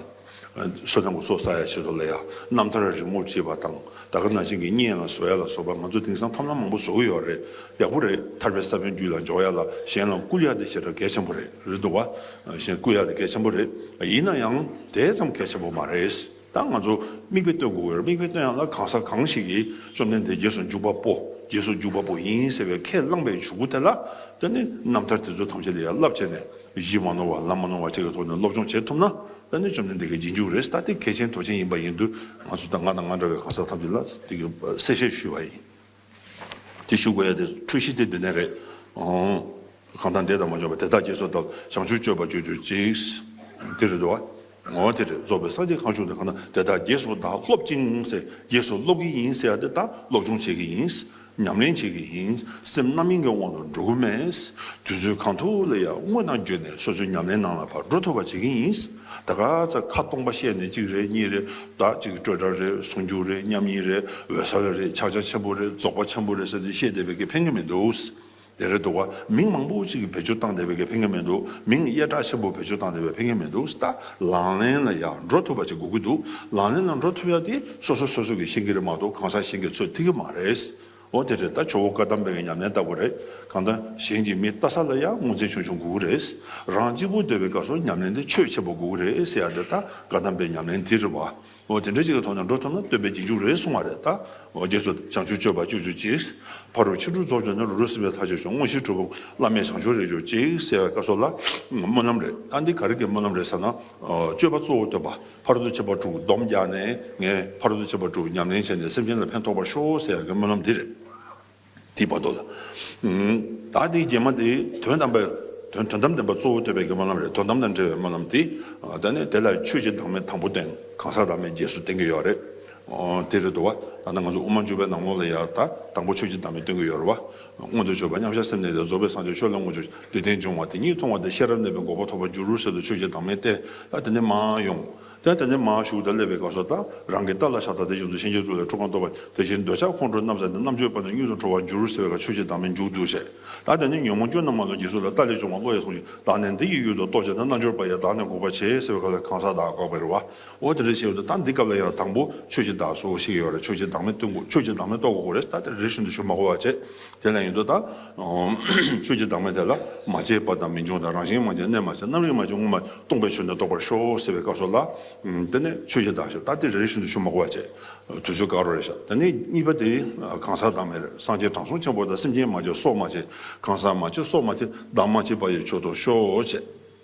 བསོད་ནམས་ཀྱི་ཚོགས་བསགས་ཡ་ཆེ་དོ་ལ་ཡ། རྣམ་ཐར་རི་མོར་བྲིས་པ་དང་ད་ག་ན་བྱིན་གྱིས་རྙེད་ཡ་ལ་བཟོ་ཡ་ལ་སོགས་པ་ང་ཚོ་དེང་སང་ཐབས་ལམ་མང་པོ་བཟོ་གི་ཡོད་རེད་ཡག་པོ་རེད་ཐར་པའི་ས་བོན་རྒྱུད་ལ་འཇོག་ཡ་ལ་གཞན་ལ་བསྐུར་ཡ་དེ་བྱེད་སྒྲ་གལ་ཆེན་པོ་རེད་རེད་འདུག་བ། གཞན་བསྐུར་ཡ་དེ་གལ་ཆེན་པོ་རེད་ཡིན་ན་ཡང་དེ་ཙམ་གལ་ཆེན་པོ་མ་རེད་ད་ང་ཚོ་མིག་དཔེ་སྟོན་དགོས་ཀྱི་རེད་མིག་དཔེ་སྟོན་ཡ་ལ་གང་ས་གང་ཞིག་གིས་བཅོམ་ལྡན་འདས་རྒྱལ་སོང་འཇུག་པ་པོ་རྒྱལ་སོང་འཇུག་པ་པོ་ཡིན་ཟེར་བའི་ཁས་བླངས་པའི་བྱུར་བུ་དེ་ལ་ལྟོས་ནས་རྣམ་ཐར་དེ་ཚོ་ཐམས་ཅད་ལ་ཡ་བསླབ་བྱས་ནས། གཞི་མ་ནོར་བ་ལམ་མ་ནོར་བ་ཅིག་གི་ཐོག་ནས་སློབ་སྦྱོང་བྱེད་ཐུབ་ན་དཔལ་ལྡན་བཅོམ་ལྡན་འདས་ཀྱི་རྗེས་འཇུག་རེད་ད་དེ་གལ་ཆེན་དོ་ཆེན་ཡིན་པ་ཡིན་དུས་ང་ཚོ་དང་ང་དང་ང་འདྲ་བའི་གང་ཟག་ཐམས་ཅད་ལ་དེ་གི་གསལ་བཤད་ཞུས་པ་ཡིན། དེ་ཞུ་དགོས་ཡ་དེ་འཁྲུལ་གཞི་དེ་འདི་ནས་རེད། གང་དང་འདས་དང་མ་འབྱོར་བ་དེ་དག་སྐྱེ་སོ་དང་བྱང་ཆུབ་སྤྱོད་པ་སྤྱོད་གྱུར་ཅིག། དེ་རེད་དོ། ངོ་བོ་དེར་རྫོགས་པའི་སངས་རྒྱས་གང་བྱུང་དེ་གང་ན་དེ་དག་རྗེས་སུ་བདག་སློབ་ཅིང་སེ་རྗེས་སུ་སློབ་ཀྱི་ཡིན་སེ་དེ་དག་སློབ་སྦྱོང་བྱེད་ཀྱི་ཡིན། ཉམས་ལེན་བྱེད་ཀྱི་ཡིན་སེམས་རྣམ་གཡེང་གི་དབང་དུ་འགྲོ་གི་མེད། དུས་ཚོད་གང་ཐུབ་ལ་ཡང་དངོས་དང་བརྗོད་ནས་སོ་སོའི་ཉམས་ལེན་ནང་ལ་བགྲོ་ཐུབ་པ་བྱེད་ཀྱི་ཡིན། ད་ག་ཚད་ཁ་སྟོང་པ་བཤད་ནས་གཅིག་རེད་གཉིས་རེད་ཟླ་གཅིག་སྤྲོས་བྲལ་རེད་ཟུང་འཇུག་རེད་མཉམ་ཉིད་རེད་འོད་གསལ་རེད་ཕྱག་རྒྱ་ཆེན་པོ་རེད་རྫོགས་པ་ཆེན་པོ་རེད་ཟེར་ཏེ་བཤད་བསྡད་པའི་གི་ཕན་གི་མི་འདུག། རེད་རེད་འདུག་མིང་མང་པོ་གཅིག་བེད་སྤྱོད་བཏང་བསྡད་པའི་ལས་ཕན་ཀན་མེད་འདུག་མིང་གཡས་སྐྲ་ཆེན་པོ་བེད་སྤྱོད་བཏང་བསྡད་པའི་ཕན་ཀན་མེད་འདུག་ལྟ། ལག་ལེན་ལ་ཡང་འགྲོ་ཐུབ་པ་ཅིག་དགོས་ཀྱི་འདུག་ལག་ལེན་ལ་འགྲོ་ཐུབ་ཡག་དེ་སོ་སོ་སོ་སོ་གིས་ཤེས་ཀྱི་རེད་མ་གཏོགས་གང་ཟག་གཞན་གྱིས་ཚོད་ཐིག་གི་མ་རེད། འོ་དེ་རེད་ད་ཇོ་བོ་བཀའ་གདམས་པའི་ཉམས་ལེན་ལྟ་བུ་རེད་གང་ལྟ། གཞན་གྱི་མི་ལྟ་ས་ལ་ཡང་ངོ་ཚན་ཆུང་ཆུང་དགོས་ཀྱི་རེད། རང་གཅིག་པུ་སྡོད་པའི་སྐབས་སུ་ཉམས་ལེན་དེ་ཆོས་ཆེན་པོ་དགོས་ཀྱི་རེད་ཟེར་ཡག་འདི་ལྟ་བཀའ་གདམས་པའི་ཉམས་ལེན་འདི་རེད་བ། འོ་དེ་འདྲ་ཅིག་ལ་ཐོག་མར་འགྲོ་ཐུབ་ན་སྟོན་པའི་རྗེས་འཇུག་རེད་གསུང་བ་རེད་ད། འོ་རྗེས་སུ་བྱང་ཆུབ་སྤྱོད་པ་སྤྱོད་འཇུག་ཅིག། ཕ་རོལ་ཕྱིན་དྲུག་རྫོགས་བྱུང་ན་རུ་རུ་སེམས་དཔའི་ལྷ་ཆོས་ཆུང་ངོ་བཞི་གྲུབ་བོ། བླ་མས་བྱང་ཆུབ་རེག་འཇུག་ཅིག་གསལ་བའི་བཀའ་སོགས་ལ། སྨོན་ལམ་རེད་ད་འདི་ག་རེ་གི་སྨོན་ལམ་རེད་ཟེར་ན། སྤྱོད་པ་གཙོ་བོ་སྟོན་པ་ཕ་རོལ་ཏུ་ཕྱིན་པ་དྲུག་སྡོམ་རྒྱག་ནས་ངས་ཕ་རོལ་ཏུ་ཕྱིན་པ་དྲུག་ཉམས་ལེན་བྱས་ནས་སེམས་ཅན་ལ་ཕན་ཐོགས་པར་ཤོག་ཟེར་ཡག་གི་སྨོན་ལམ་འདི་རེད། དེའི་བར་དོ་ལ། ད་དེའི་རྒྱན་མ་དེ་དོན་དམ་པའི། དོན་དམ་བདེན་པ་གཙོ་བོ་ཐོས་པའི་སྨོན་ལམ་རེད་དོན་དམ་དང་འབྲེལ་བའི་སྨོན་ལམ་དེ། ད་ནི་དེ་ལ་ཆོས་རྗེ་དྭངས་མའི་དང་པོ་སྟེང་གང་ཟག་དྭངས་མའི་རྗེས་སུ་བསྟན་གྱི་ཡོད་རེད། དེ་རེད་འདུག་བ། ད་ནི་ང་ཚོ་དབུ་མ་བཅུ་པའི་ནང་ལོགས་ལ་ཡང་ད་དང་པོ་ཆོས་རྗེ་དྭངས་མས་སྟོན་གྱི་ཡོད་རེད་བ། སྔོན་དུ་ཆོས་པ་མཉམ་བཞག་སེམས་གནས་ཏེ་རྫོགས་པའི་སངས་རྒྱས་ཆོས་ལ་དངོས་སྦྱོར་བདེ་ལྡན་འབྱུང་བ་དེ་ཉིད་མཐོང་བ་དང་ཤེས་རབ་གནས་པའི་འགོག་པ་ཐོབ་པར་འགྱུར་རུ་ཟེར་དུ་ཆོས་རྗེ་དྭངས་མས་བསྟན་ད་དེ་ནས་མ་ཡོང། དེ་ལྟ་ནས་མ་ཧཱ་ཤུ་ཀུ་ད་ལས་པའི་སྐབས་སོགས་དང་རང་གི་རྟ་ལ་ཤ་དང་དེ་བཞིན་དུ་ཤིང་གཅིག་ཏུ་ལས་ཁྲུ་གང་གཏོགས་པ་དེ་བཞིན་འདོད་ཆགས་ཁོང་ཁྲོ་རྣམ་བསལ་ནས་རྣམ་གཅོད་སྤངས་ནས་གཡུལ་དུ་འཕྲོ་བར་འགྱུར་ཟེར་བའི་བཀའ་ཆོས་ཀྱི་དང་མི་འཇུག་འདུ་བྱེད་དང་དེ་ནི་ཉོན་མོངས་སྐྱོན་རྣམས་མ་ལུས་ཀྱི་གཟུགས་ལ་རྟ་ལས་བྱུང་བ་བློ་ཡིས་མཐོང་ཞིང་དག་ནས་འདི་ཡི་གཡུལ་དུ་གཏོགས་བྱས་ན་རྣལ་འབྱོར་པ་ཡང་དག་ནས་འགུགས་པར་བྱེད་ཟེར་བའི་སྐབས་ལ་གང་ཟག་དག་འགོག་པའི་རེ་བ་འོ་དེ་འདྲ་བྱས་ཡོད་དོ་ད་འདི་སྐབས་ལ་ཡང་དང་པོ་ཆོས་ཀྱི་བདག་སོགས་ཤིག་ཡོད་རེ་ཆོས་ཀྱི་བདག་མེད་སྟོན་དགོས་ཆོས་ཀྱི་བདག་མེད་རྟོགས་དགོས་རེ་ད་དེ་རེ་བཞིན་དུ་ཆོས་མ་གོ་བ་བྱེད་དེ་ལ་ཡོད་དོ་ལྟ། ཆོས་ཀྱི་བདག་མེད་དེ་ལ་མ་སྐྱེས་པ་དང་མི་འབྱུང་དང་རང་བཞིན་མ་སྐྱེས་གནས་མ་བྱས་རྣམ་རིག་མ་བྱུང་ངོ་མ་སྟོང་པའི་ཆོས་འདི་རྟོགས་པར་ཤོག་ཟེར་བའི་བཀའ་སོགས་ལ། དེ་ནས་ཆོས་ཀྱི་བདག་ཞེས་ལྟ་སྟེ་རེ་རེ་བཞིན་དུ་ཆོས་མ་གོ་བར་བྱས། དུས་ཚོད་དགའ་རོགས་རེ་བྱ། དེ་ནས་གཉིས་པ་དེ། གང་ཟག་བདག་མེད་སངས་རྒྱས་དྲང་སྲོང་ཆེན་པོ་དང་སེམས་ཅན་མ་བྱས་སྲོག་མ་བྱས་གང་ཟག་མ་བྱས་སྲོག་མ་བྱས་བདག་མ་བྱས་པ་ཡི་ཆོས་རྟོགས་ཤོག་བྱས།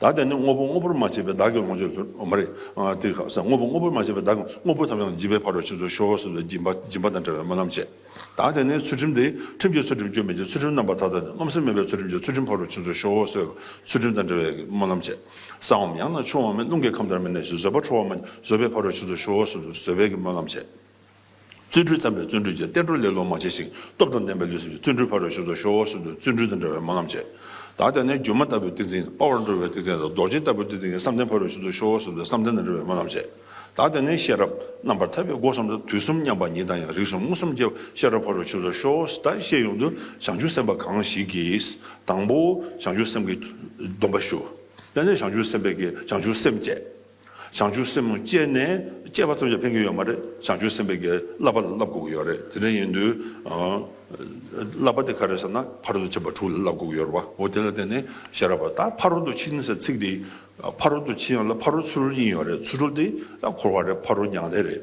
བདག་ཀྱང་ནི་དངོས་པོ་དངོས་པོར་མ་བྱས་པའི་བདག་གི་ལོངས་སྤྱོད་དུ་མ་རེག། དེ་ལ་ཟེར་དངོས་པོ་དངོས་པོར་མ་བྱས་པའི་བདག་གི་དངོས་པོ་ཐམས་ཅད་འཇིག་པའི་བར་དུ་ཕྱིན་ཚུལ་ཤོ་ཤོ་ཟེར་བའི་སྦྱིན་པ་དང་བྲལ་བའི་སྨོན་ལམ་བྱས། བདག་ཀྱང་ནི་ཚུལ་ཁྲིམས་དེ་ཁྲིམས་ཀྱི་ཚུལ་ཁྲིམས་སྐྱོན་མེད་ཀྱི་ཚུལ་ཁྲིམས་རྣམ་པར་དག་དང་ནི་རློམ་སེམས་མེད་པའི་ཚུལ་ཁྲིམས་ཀྱི་ཚུལ་ཁྲིམས་བར་དུ་ཕྱིན་ཚུལ་ཤོ་ཤོ་ཟེར་བའི་ཚུལ་ཁྲིམས་དང་བྲལ་བའི་སྨོན་ལམ་བྱས། ས་འམ་ཡང་ན་ཆུ་འམ་རླུང་གི་ཁམས་ཐར་མེད་ནས་བཟོད་པ་འཕྲོ་བ་འམ་བཟོད་པའི་བར་དུ་ཕྱིན་ཚུལ་ཤོ་ཤོ་ཟེར་བའི་སྨོན་ལམ་བྱས། བརྩོན་འགྲུས་བརྩམས་པའི་བརྩོན་འགྲུས་ཀྱིས་བསྟན་འགྲོར་ལེ་ལོ་མ་བྱས་ཤིང་སྟོབས་དང་ལྡན་པའི་ལུས་སེམས་ཀྱི་བརྩོན་འགྲུས་ཕར་རོལ་ཤུལ་དུ་ཤོར་བ་སྲིད་དུ་བརྩོན་འགྲུས་དང་འདྲ་བའི་སྨོན་ལམ་བྱེད། བདག་ཀྱང་ནི་སྒྱུ་མ་ལྟ་བུའི་ཏིང་འཛིན་དཔའ་བར་འགྲོ་བའི་ཏིང་འཛིན་དང་རྡོ་རྗེ་ལྟ་བུའི་ཏིང་འཛིན་གྱིས་བསམ་གཏན་ཕ་རོལ་ཤུལ་དུ་ཤོར་བ་སྲིད་དུ་བསམ་གཏན་དང་འདྲ་བའི་སྨོན་ལམ་བྱེད། བདག་ཀྱང་ནི་ཤེས་རབ་རྣམ་པར་ཐར་པའི་སྒོ་གསུམ་དུ་དུས་གསུམ་མཉམ་པ་ཉིད་དང་ཡང་རིགས་གསུམ་མངོན་སུམ་སྐྱེ་བ་ཤེས་རབ་ཕ་རོལ་ཤུལ་དུ་ཤོར་བ་སྲིད་ལྟར་ཤེས་ཡོང་དུ་བྱང་ཆུབ་སེམས་དཔའ་གང་ཞིག་གིས། དང་པོ་བྱང་ཆུབ་སེམས་ཀྱི་སྡོམ་པ་ཞུ། དེ་ནས་བྱང་ཆུབ་སེམས་དཔས་ཀྱིས་བྱང་ཆུབ་སེམས་བསྐྱེད། བྱང་ཆུབ་སེམས་མོ་སྤྱད་ནས་སྤྱད་པ་ཙམ་ཡང་ཕན་གྱི་ཡོད་མ་རེད་བྱང་ཆུབ་སེམས་དཔའི་གེ་བསླབ་པ་ལ་བསླབ་དགོས་ཀྱི་ཡོད་རེད་དེ་འདྲ་ཡིན་དུས། བསླབ་པ་དེ་ག་རེད་ཟེར་ན་ཕ་རོལ་ཏུ་ཕྱིན་པ་དྲུག་ལ་བསླབ་དགོས་ཀྱི་ཡོད་རེད་བ་འོ་དེ་ལ་བརྟེན་ནས་ཤེས་རབ་བ་ད་ཕ་རོལ་ཏུ་ཕྱིན་ཟེར་ཚིག་དེ་ཕ་རོལ་ཏུ་ཕྱིན་ཡོད་ལ་ཕ་རོལ་ཚུར་རོལ་ཡིན་ཡོད་རེད་ཚུར་རོལ་དེ་ད་འཁོར་བ་རེད་ཕ་རོལ་མྱང་འདས་རེད།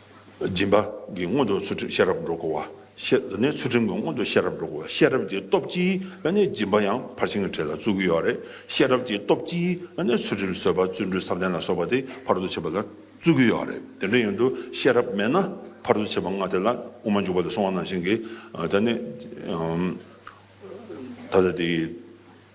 སྦྱིན་པ། གི་སྔོན་དུ་ཚུལ་ཁྲིམས་ཤེས་རབ་སྒྲོ་སྐུར་བ། ཞེས་པ་ནི་ཚུལ་ཁྲིམས་ཀྱི་སྔོན་དུ་ཤེས་རབ་སྒྲོ་སྐུར་བ་ཤེས་རབ་ཀྱི་སྟོབས་ཀྱིས་ནི་སྦྱིན་པ་ཡང་ཕར་ཕྱིན་གྱི་གྲས་ལ་བརྩོན་གྱི་ཡོ་རེ། ཤེས་རབ་ཀྱི་སྟོབས་ཀྱིས་ནི་ཚུལ་ཁྲིམས་བཟོད་པ་བརྩོན་འགྲུས་བསམ་གཏན་ལ་སོགས་པ་དེ་ཕར་དུ་བྱེད་པ་ལ་བརྩོན་གྱི་ཡོ་རེ། དེ་འདྲ་ཡིན་དུ་ཤེས་རབ་མེད་ན་ཕར་དུ་བྱེད་པ་ལྔ་དེ་ལ་དབུ་མ་འཇུག་པ་ལས་སོང་བ་ནང་བཞིན་གྱི། ད་ནི། ད་ལྟ་དེའི།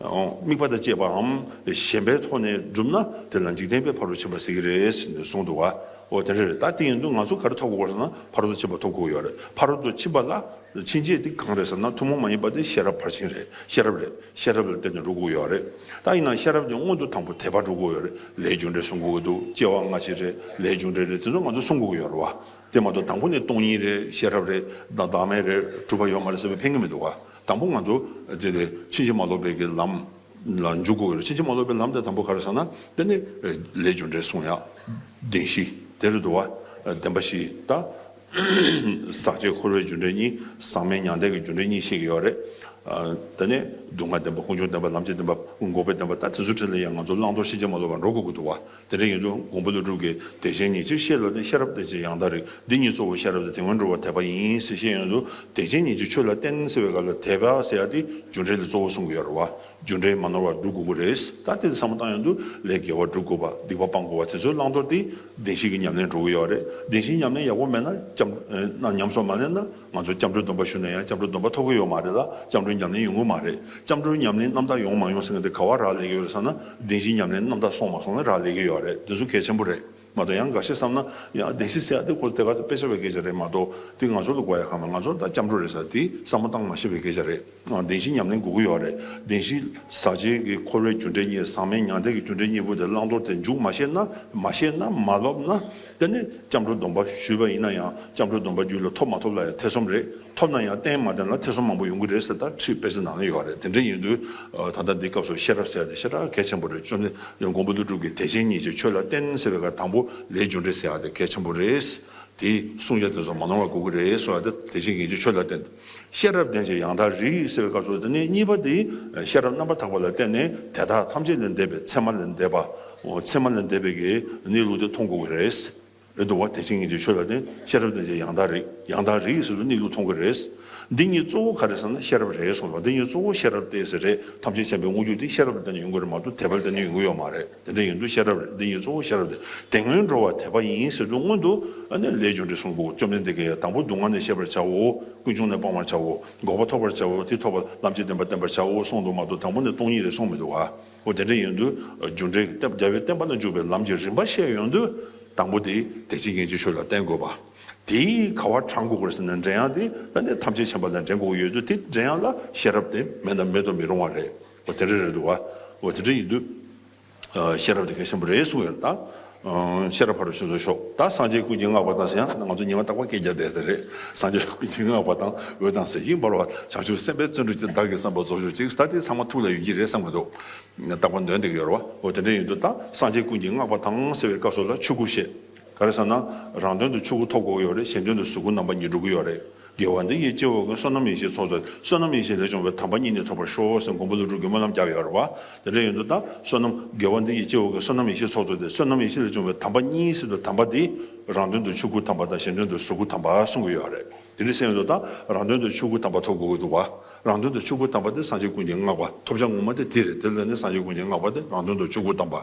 དམིགས་པ་དང་བཅས་པའམ་གཞན་པའི་ཐོག་ནས་བསྒྲུབས་ན་དེ་ལ་འཇིག་རྟེན་པའི་བར་དོ་བྱེད་པ་ཟེར་གྱི་རེད་ཟེར་ནས་གསུངས་འདུག་ཨོ་དེ་འདྲ་རེད་ད་དེ་ཡིན་དུས་ང་ཚོ་ག་རེ་ཐོབ་དགོས་སོང་ན་བར་དོ་བྱེད་པ་ཐོབ་དགོས་ཡོད་རེད་བར་དོ་བྱེད་པ་ལ་ཕྱིན་ཆད་དེ་གང་རེད་ཟེར་ན་ཐུན་མོང་མ་ཡིན་པ་དེ་ཤེས་རབ་ཕར་ཕྱིན་རེད་ཤེས་རབ་རེད་ཤེས་རབ་ལ་བརྟེན་ནས་འགྲོ་དགོས་ཡོད་རེད་ད་ཡིན་ན་ཤེས་རབ་དེ་སྔོན་དུ་དང་པོ་དད་པ་འགྲོ་དགོས་ཡོད་རེད་ལས་སྦྱོང་འབྲས་སྲུང་དགོས་ཀྱི་འདུག་སྐྱེ་བ་སྔ་ཕྱི་རེད་ལས་སྦྱོང་འབྲས་རེད་དེ་ཚོ་ང་ཚོ་སྲུང་དགོས་ཀྱི་ཡོད་རེད་བ་དེ་མ་གཏོགས་དང་པོ་ནས་སྟོང་ཉིད་རེད་ཤེས་རབ་རེད་བདག་མེད་རེད་གྲུབ་པ་ཡོད་མ་རེད་ཟེར་བའི་ཕན་གྱི་མི་འདུག་བ། དང་པོ་ང་ཚོ་འདི་ནས་ཕྱིན་ཅི་མ་ལོག་པའི་གི་ལམ་ལ་འཇུག་དགོས་ཡོད་རེད་ཕྱིན་ཅི་མ་ལོག་པའི་ལམ་དེ་དང་པོ་ག་རེད་ཟེར་ན་དཔེ་ནི་ལས་རྒྱུ་འབྲས་གསུང་ཡག་བདེན་བཞི་དེ་རེད་དུ་བ་བདེན་པ་བཞི་དང། ཟག་བཅས་འཁོར་བའི་རྒྱུ་འབྲས་གཉིས་ཟག་མེད་མྱང་འདས་ཀྱི་རྒྱུ་འབྲས་གཉིས་བཤད་ཀྱི་ཡོད་རེད། དེ་ནས་སྡུག་བསྔལ་བདེན་པ་ཀུན་འབྱུང་བདེན་པ་ལམ་བྱེད་བདེན་པ་འགོག་པའི་བདེན་པ་ད་དེ་ཚོ་ཁྲིད་ལ་ཡང་ང་ཚོ་བླང་དོར་ཕྱིན་ཅི་མ་ལོག་པ་འགྲོ་དགོས་ཀྱི་འདུག་བ། དེ་འདྲ་ཡིན་དུས་དགོངས་པ་ལུས་གྲུབ་ཀྱི་བདེ་ཆེན་ཉིད་ཕྱིར་བཤད་ལ་ནི་ཤེས་རབ་བདེ་ཆེན་ཡང་དག་རིག་འདི་ཉིད་གཙོ་བོ་ཤེས་རབ་དང་དེ་སྔོན་འགྲོ་བ་དད་པ་ཡིན་ཟེར་ཤེས་ཡོན་དུ་བདེ་ཆེན་ཉིད་ཀྱི་ཆོས་ལ་བརྟེན་ཟེར་བའི་སྐབས་ལ་དད་པ་ཟེར་ཡག་སྟེ་རྒྱུ་འབྲས་ལ་གཙོ་བོ་གསུང་གི་ཡོད་རེད་བ་རྒྱུ་འབྲས་མ་ནོར་བར་སྒྲུབ་དགོས་ཀྱི་རེད་ད་ལྟའི་བསམ་བློ་བཏང་ཡོང་དུས་ལས་དགེ་བ་བསྒྲུབ་དགོས་པ་སྡིག་པ་སྤང་དགོས་བ་དེ་ཚོའི་བླང་དོར་དེ་བདེན་བཞི་གི་ཉམས་ལེན་འགྲོ་གི་ཡོད་རེད་བདེན་བཞི་ཉམས་ལེན་ཡག་པོ་མེད་ན་སྐྱབས་ན་ཉམས་སོགས་མ་ལེན་ན། ང་ཚོ་སྐྱབས་འགྲོའི་སྡོམ་པ་ཞུས་ན་ཡང་སྐྱབས་འགྲོའི་སྡོམ་པ་ཐོབ་གི་ཡོད་མ་རེད་ལ་སྐྱབས་འགྲོའི་ཉམས་ལེན་ཡོང་གི་མ་རེད་སྐྱབས་འགྲོའི་ཉམས་ལེན་རྣམ་དག་ཡོང་མ་ཡོང་ཟེར་མཁན་དེ་ག་བ་རག་ལས་ཀྱི་ཡོད་རེད་བསམ་ན་བདེན་བཞིའི་ཉམས་ལེན་རྣམ་དག་སོང་མ་སོང་ལ་རག་ལས་ཀྱི་ཡོད་རེད་དེ་ཚོ་གལ་ཆེན་པོ་རེད་མ་གཏོགས་ཡང་འགའ་ཤས་བསམ་ན་ཡང་བདེན་བཞི་ཟེར་ཡག་དེ་ཁོ་དེ་ག་དཔེ་ཆ་བའི་སྐད་ཆ་རེད་མ་གཏོགས་དེ་ང་ཚོ་ལ་གོ་ཡ་གང་མེད་ང་ཚོ་ལ་ད་སྐྱབས་འགྲོ་རེད་ཟེར་དེ་བསམ་བློ་བཏང་མ་ཤེས་པའི་སྐད་ཆ་རེད། བདེན་བཞིའི་ཉམས་ལེན་དགུ་དགུ་ཡོད་རེད། བདེན་བཞི། ཟག་བཅས་ཀྱི་འཁོར་བའི་རྒྱུ་འབྲས་གཉིས་ཟག་མེད་མྱང་འདས་ཀྱི་རྒྱུ་འབྲས་གཉིས་པོ་དེ་བླང་དོར་དེ་མཇུག་མ་ཤེས་ན་མ་ཤེས་ན་མ་ལོབས་ན། དེ་ནི་སྐྱབས་འགྲོ་སྡོམ་པ་ཞུས་པ་ཡིན་ན་ཡང་སྐྱབས་འགྲོ་སྡོམ་པ་རྒྱུད་ལ་ཐོབ་མ་ཐོབ་ལ་ཡང་ཐེ་ཚོམ་རེད། ཐོབ་ན་ཡང་བརྟན་མ་བརྟན་ལ་ཐེ་ཚོམ་མང་པོ་ཡོང་གི་རེད་ཟེར་ད་ཁྲིད་དཔེ་ཚོད་ནང་ན་ཡོད་རེད་དེ་འདྲ་ཡིན་དུས། ད་ལྟ་འདི་སྐབས་སུ་ཤེས་རབ་ཟེར་ཡ་དེ་ཤེས་རབ་གལ་ཆེན་པོ་རེད་བཅོམ་ལྡན་འདས་མགོན་པོ་ཀླུ་སྒྲུབ་ཀྱི་དད་ཅན་གཉིས་ཀྱི་ཆོས་ལ་བརྟེན་ཟེར་བའི་ཁར་དང་པོ་ལས་རྒྱུ་འབྲས་ཟེར་ཡ་དེ་གལ་ཆེན་པོ་རེད། དེའི་གསུང་རྒྱ་དེ་ཚོ་མ་ནོར་བ་དགུ་དགུ་རེད་གསུང་ཡ་དེ་དད་ཅན་གཉིས་ཀྱི་ཆོས་ལ་བརྟེན། ཤེས་རབ་ལྡན་ཞིང་ཡང་དག་རིག་ཡིད་བསྲེ་བའི་སྐབས་སུ་དེ་ནས་གཉིས་པ་དེ་ཤེས་རབ་རྣམ་པར་དག་པ་ལ་བརྟེན་ནས་དེ་དག་ཐམས་ཅད་ལས་འདས་པའི་མཚན་མ་ལས་འདས་པའོ་མཚན་མ་ལས་འདས་པའི་གེགས་ནི་ལུགས་དེ་མཐོང་དགོས་ཀྱི་རེད། དུ་བ་དེ་བྱིངས་ངེས་ཀྱི་ཆོས་ལ་བརྟེན་ཤེས་རབ་ལྡན་ཞིང་ཡང་དག་རིག་ཡང་དག་རིག་ཡིད་བསྲེ་བའི་ནི་ལུགས་མཐོང་དགོས་རེད། འདི་གཉིས་གཙོ་བོ་ག་རེད་བསམ་ན་ཤེས་རབ་རེད་གསུངས་སོ་འདི་གཉིས་གཙོ་བོ་ཤེས་རབ་ཏེ་ཟེར་རེད་ཐམས་ཅད་མཁྱེན་པའི་དངོས་རྒྱུ་དེ་ཤེས་རབ་ལ་བརྟེན་ནས་ཡོང་དགོས་རེད་མ་གཏོགས་དེ་བ་ལ་བརྟེན་ནས་ཡོང་གི་ཡོད་མ་རེད། དེ་འདྲ་ཡིན་དུས་ཤེས་རབ་རེད་འདི་ཉིད་གཙོ་བོ་ཤེས་རབ་དེ་དེ་སྔོན་འགྲོ་བ་དད་པ་ཡིན་ཟེར་དུས་སྔོན་དུ་ནས་ལས་བྱུང་འདྲེ་གསུམ་གོ་བཅོམ་ལྡན་འདས་ཀྱིས་དང་པོ་སྡུག་བསྔལ་ནས་ཤེས་པར་བྱའོ། ཀུན་འབྱུང་ནས་སྤང་བར་བྱའོ། འགོག་པ་ཐོབ་པར་བྱའོ་དེ་ཐོབ་པ་ལམ་གྱི་བདེན་པ་བསྟན་པར་བྱའོ་གསུངས་འདུག་མ་གཏོགས་དང་པོ་ནས་སྟོང་ཉིད་རེ་གསུངས་མི་འདུག་གོ་དེ་འདྲ་ཡིན་དུས་རྒྱུ་འབྲས་ཀྱི་རྒྱལ་བའི་བསྟན་པ་ན་འཇུག་པའི་ལམ་གྱི་རིམ་པ་བཤད་ཡོང་དུས་དང་པོ་དེ་དད་ཅིང་ཡིད་ཀྱི་ཆོས་ལ་བརྟེན་དགོས་པ། དེས་ག་བར་གྲངས་འགོག་གོ་ཟེར་ན་འདྲེ་ཡང་དེ་ཐམས་ཅད་མཁྱེན་པ་ལ་འདྲེ་འགོག་ཡོད་དུས་དེ་འདྲེ་ཡང་ལ་ཤེས་རབ་དེ་མེད་ན་མེད་དུ་མི་རུང་བ་རེད། འོ་དེ་འདྲ་རེད་འདུག་བ། འོ་དེ་འདྲ་ཡིན་དུས། ཤེས་རབ་དེ་ག་ཤེན་པོ་རེད་གསུང་ཡོད་དང། ཤེས་རབ་ཕར་རུ་ཕྱིན་སོང་ཤོག་ད་སངས་རྒྱས་ཀུན་གྱིས་བསྔགས་པ་དང་ཟེར་ཡང་ང་ཚོ་ཉི་མ་རྟག་པ་སྐད་རྒྱག་བསྡད་ཟེར་རེད་སངས་རྒྱས་ཀུན་གྱིས་བསྔགས་པ་དང་འོད་དང་གཟི་བྱིན་འབར་བ་བྱང་ཆུབ་སེམས་དཔའི་བརྩོན་འགྲུས་ཀྱིས་བདག་གི་བསམ་པ་རྫོགས་ཤོག་ཅིག་ད་དེ་ཚང་མ་ཐུགས་ལ་ཡོད་ཀྱི་རེད་བསམ་གྱི་འདུག་རྟག་པར་འདོན་འདེགས་ཡོད་རེད་བ་འོ་དེ་འདྲ་ཡིན་དུས་ད་སངས་རྒྱས་ཀུན་གྱིས་བསྔགས་པ་དང་ཟེར་བའི་སྐབས་སུ་ལ་ཆོས་སྐུ་ཞེས། ག་རེ་ཟེར་ན། རང་དོན་དུ་ཆོས་སྐུ་ཐོབ་དགོས་ཀྱི་ཡོད་རེད་གཞན་དོན་དུ་གཟུགས་སྐུ་རྣམ་པ་གཉིས་འགྲུབ་ཀྱི་ཡོད་རེད། དགེ་བ་འདི་ཡིས་སྐྱེ་བོ་ཀུན་བསོད་ནམས་ཡེ་ཤེས་ཚོགས་མཛད་དེ་བསོད་ནམས་ཡེ་ཤེས་ལས་བྱུང་བའི་དམ་པ་གཉིས་ནི་ཐོབ་པར་ཤོག་ཟེར་མགོན་པོ་ཀླུ་སྒྲུབ་ཀྱི་སྨོན་ལམ་བརྒྱབ་ཡོད་རེད་བ། དེ་འདྲ་ཡིན་དུས་ད་བསོད་ནམས་དགེ་བ་འདི་ཡིས་སྐྱེ་བོ་ཀུན་བསོད་ནམས་ཡེ་ཤེས་ཚོགས་མཛད་དེ་བསོད་ནམས་ཡེ་ཤེས་ལས་བྱུང་བའི་དམ་པ་གཉིས་ཟེར་དུས་དམ་པ་དེས་རང་དོན་དུ་ཆོས་སྐུ་དམ་པ་དང་གཞན་དོན་དུ་གཟུགས་སྐུ་དམ་པ་གསུང་གི་ཡོད་རེད། དེ་འདྲ་བྱས་ཡོད་དུས་ད་རང་དོན་དུ་ཆོས་སྐུ་དམ་པ་ཐོབ་དགོས་ཀྱི་འདུག་བ། རང་དོན་དུ་ཆོས་སྐུ་དམ་པ་དེ་སངས་རྒྱས་ཀུན་གྱི་བསྔགས་པ་ཐོབ་བྱ་ངོ་མ་དེ་དེ་རེད་དེ་ལྟར་ན་སངས་རྒྱས་ཀུན་གྱི་བསྔགས་པ་དེ་རང་དོན་དུ་ཆོས་སྐུ་དམ་པ།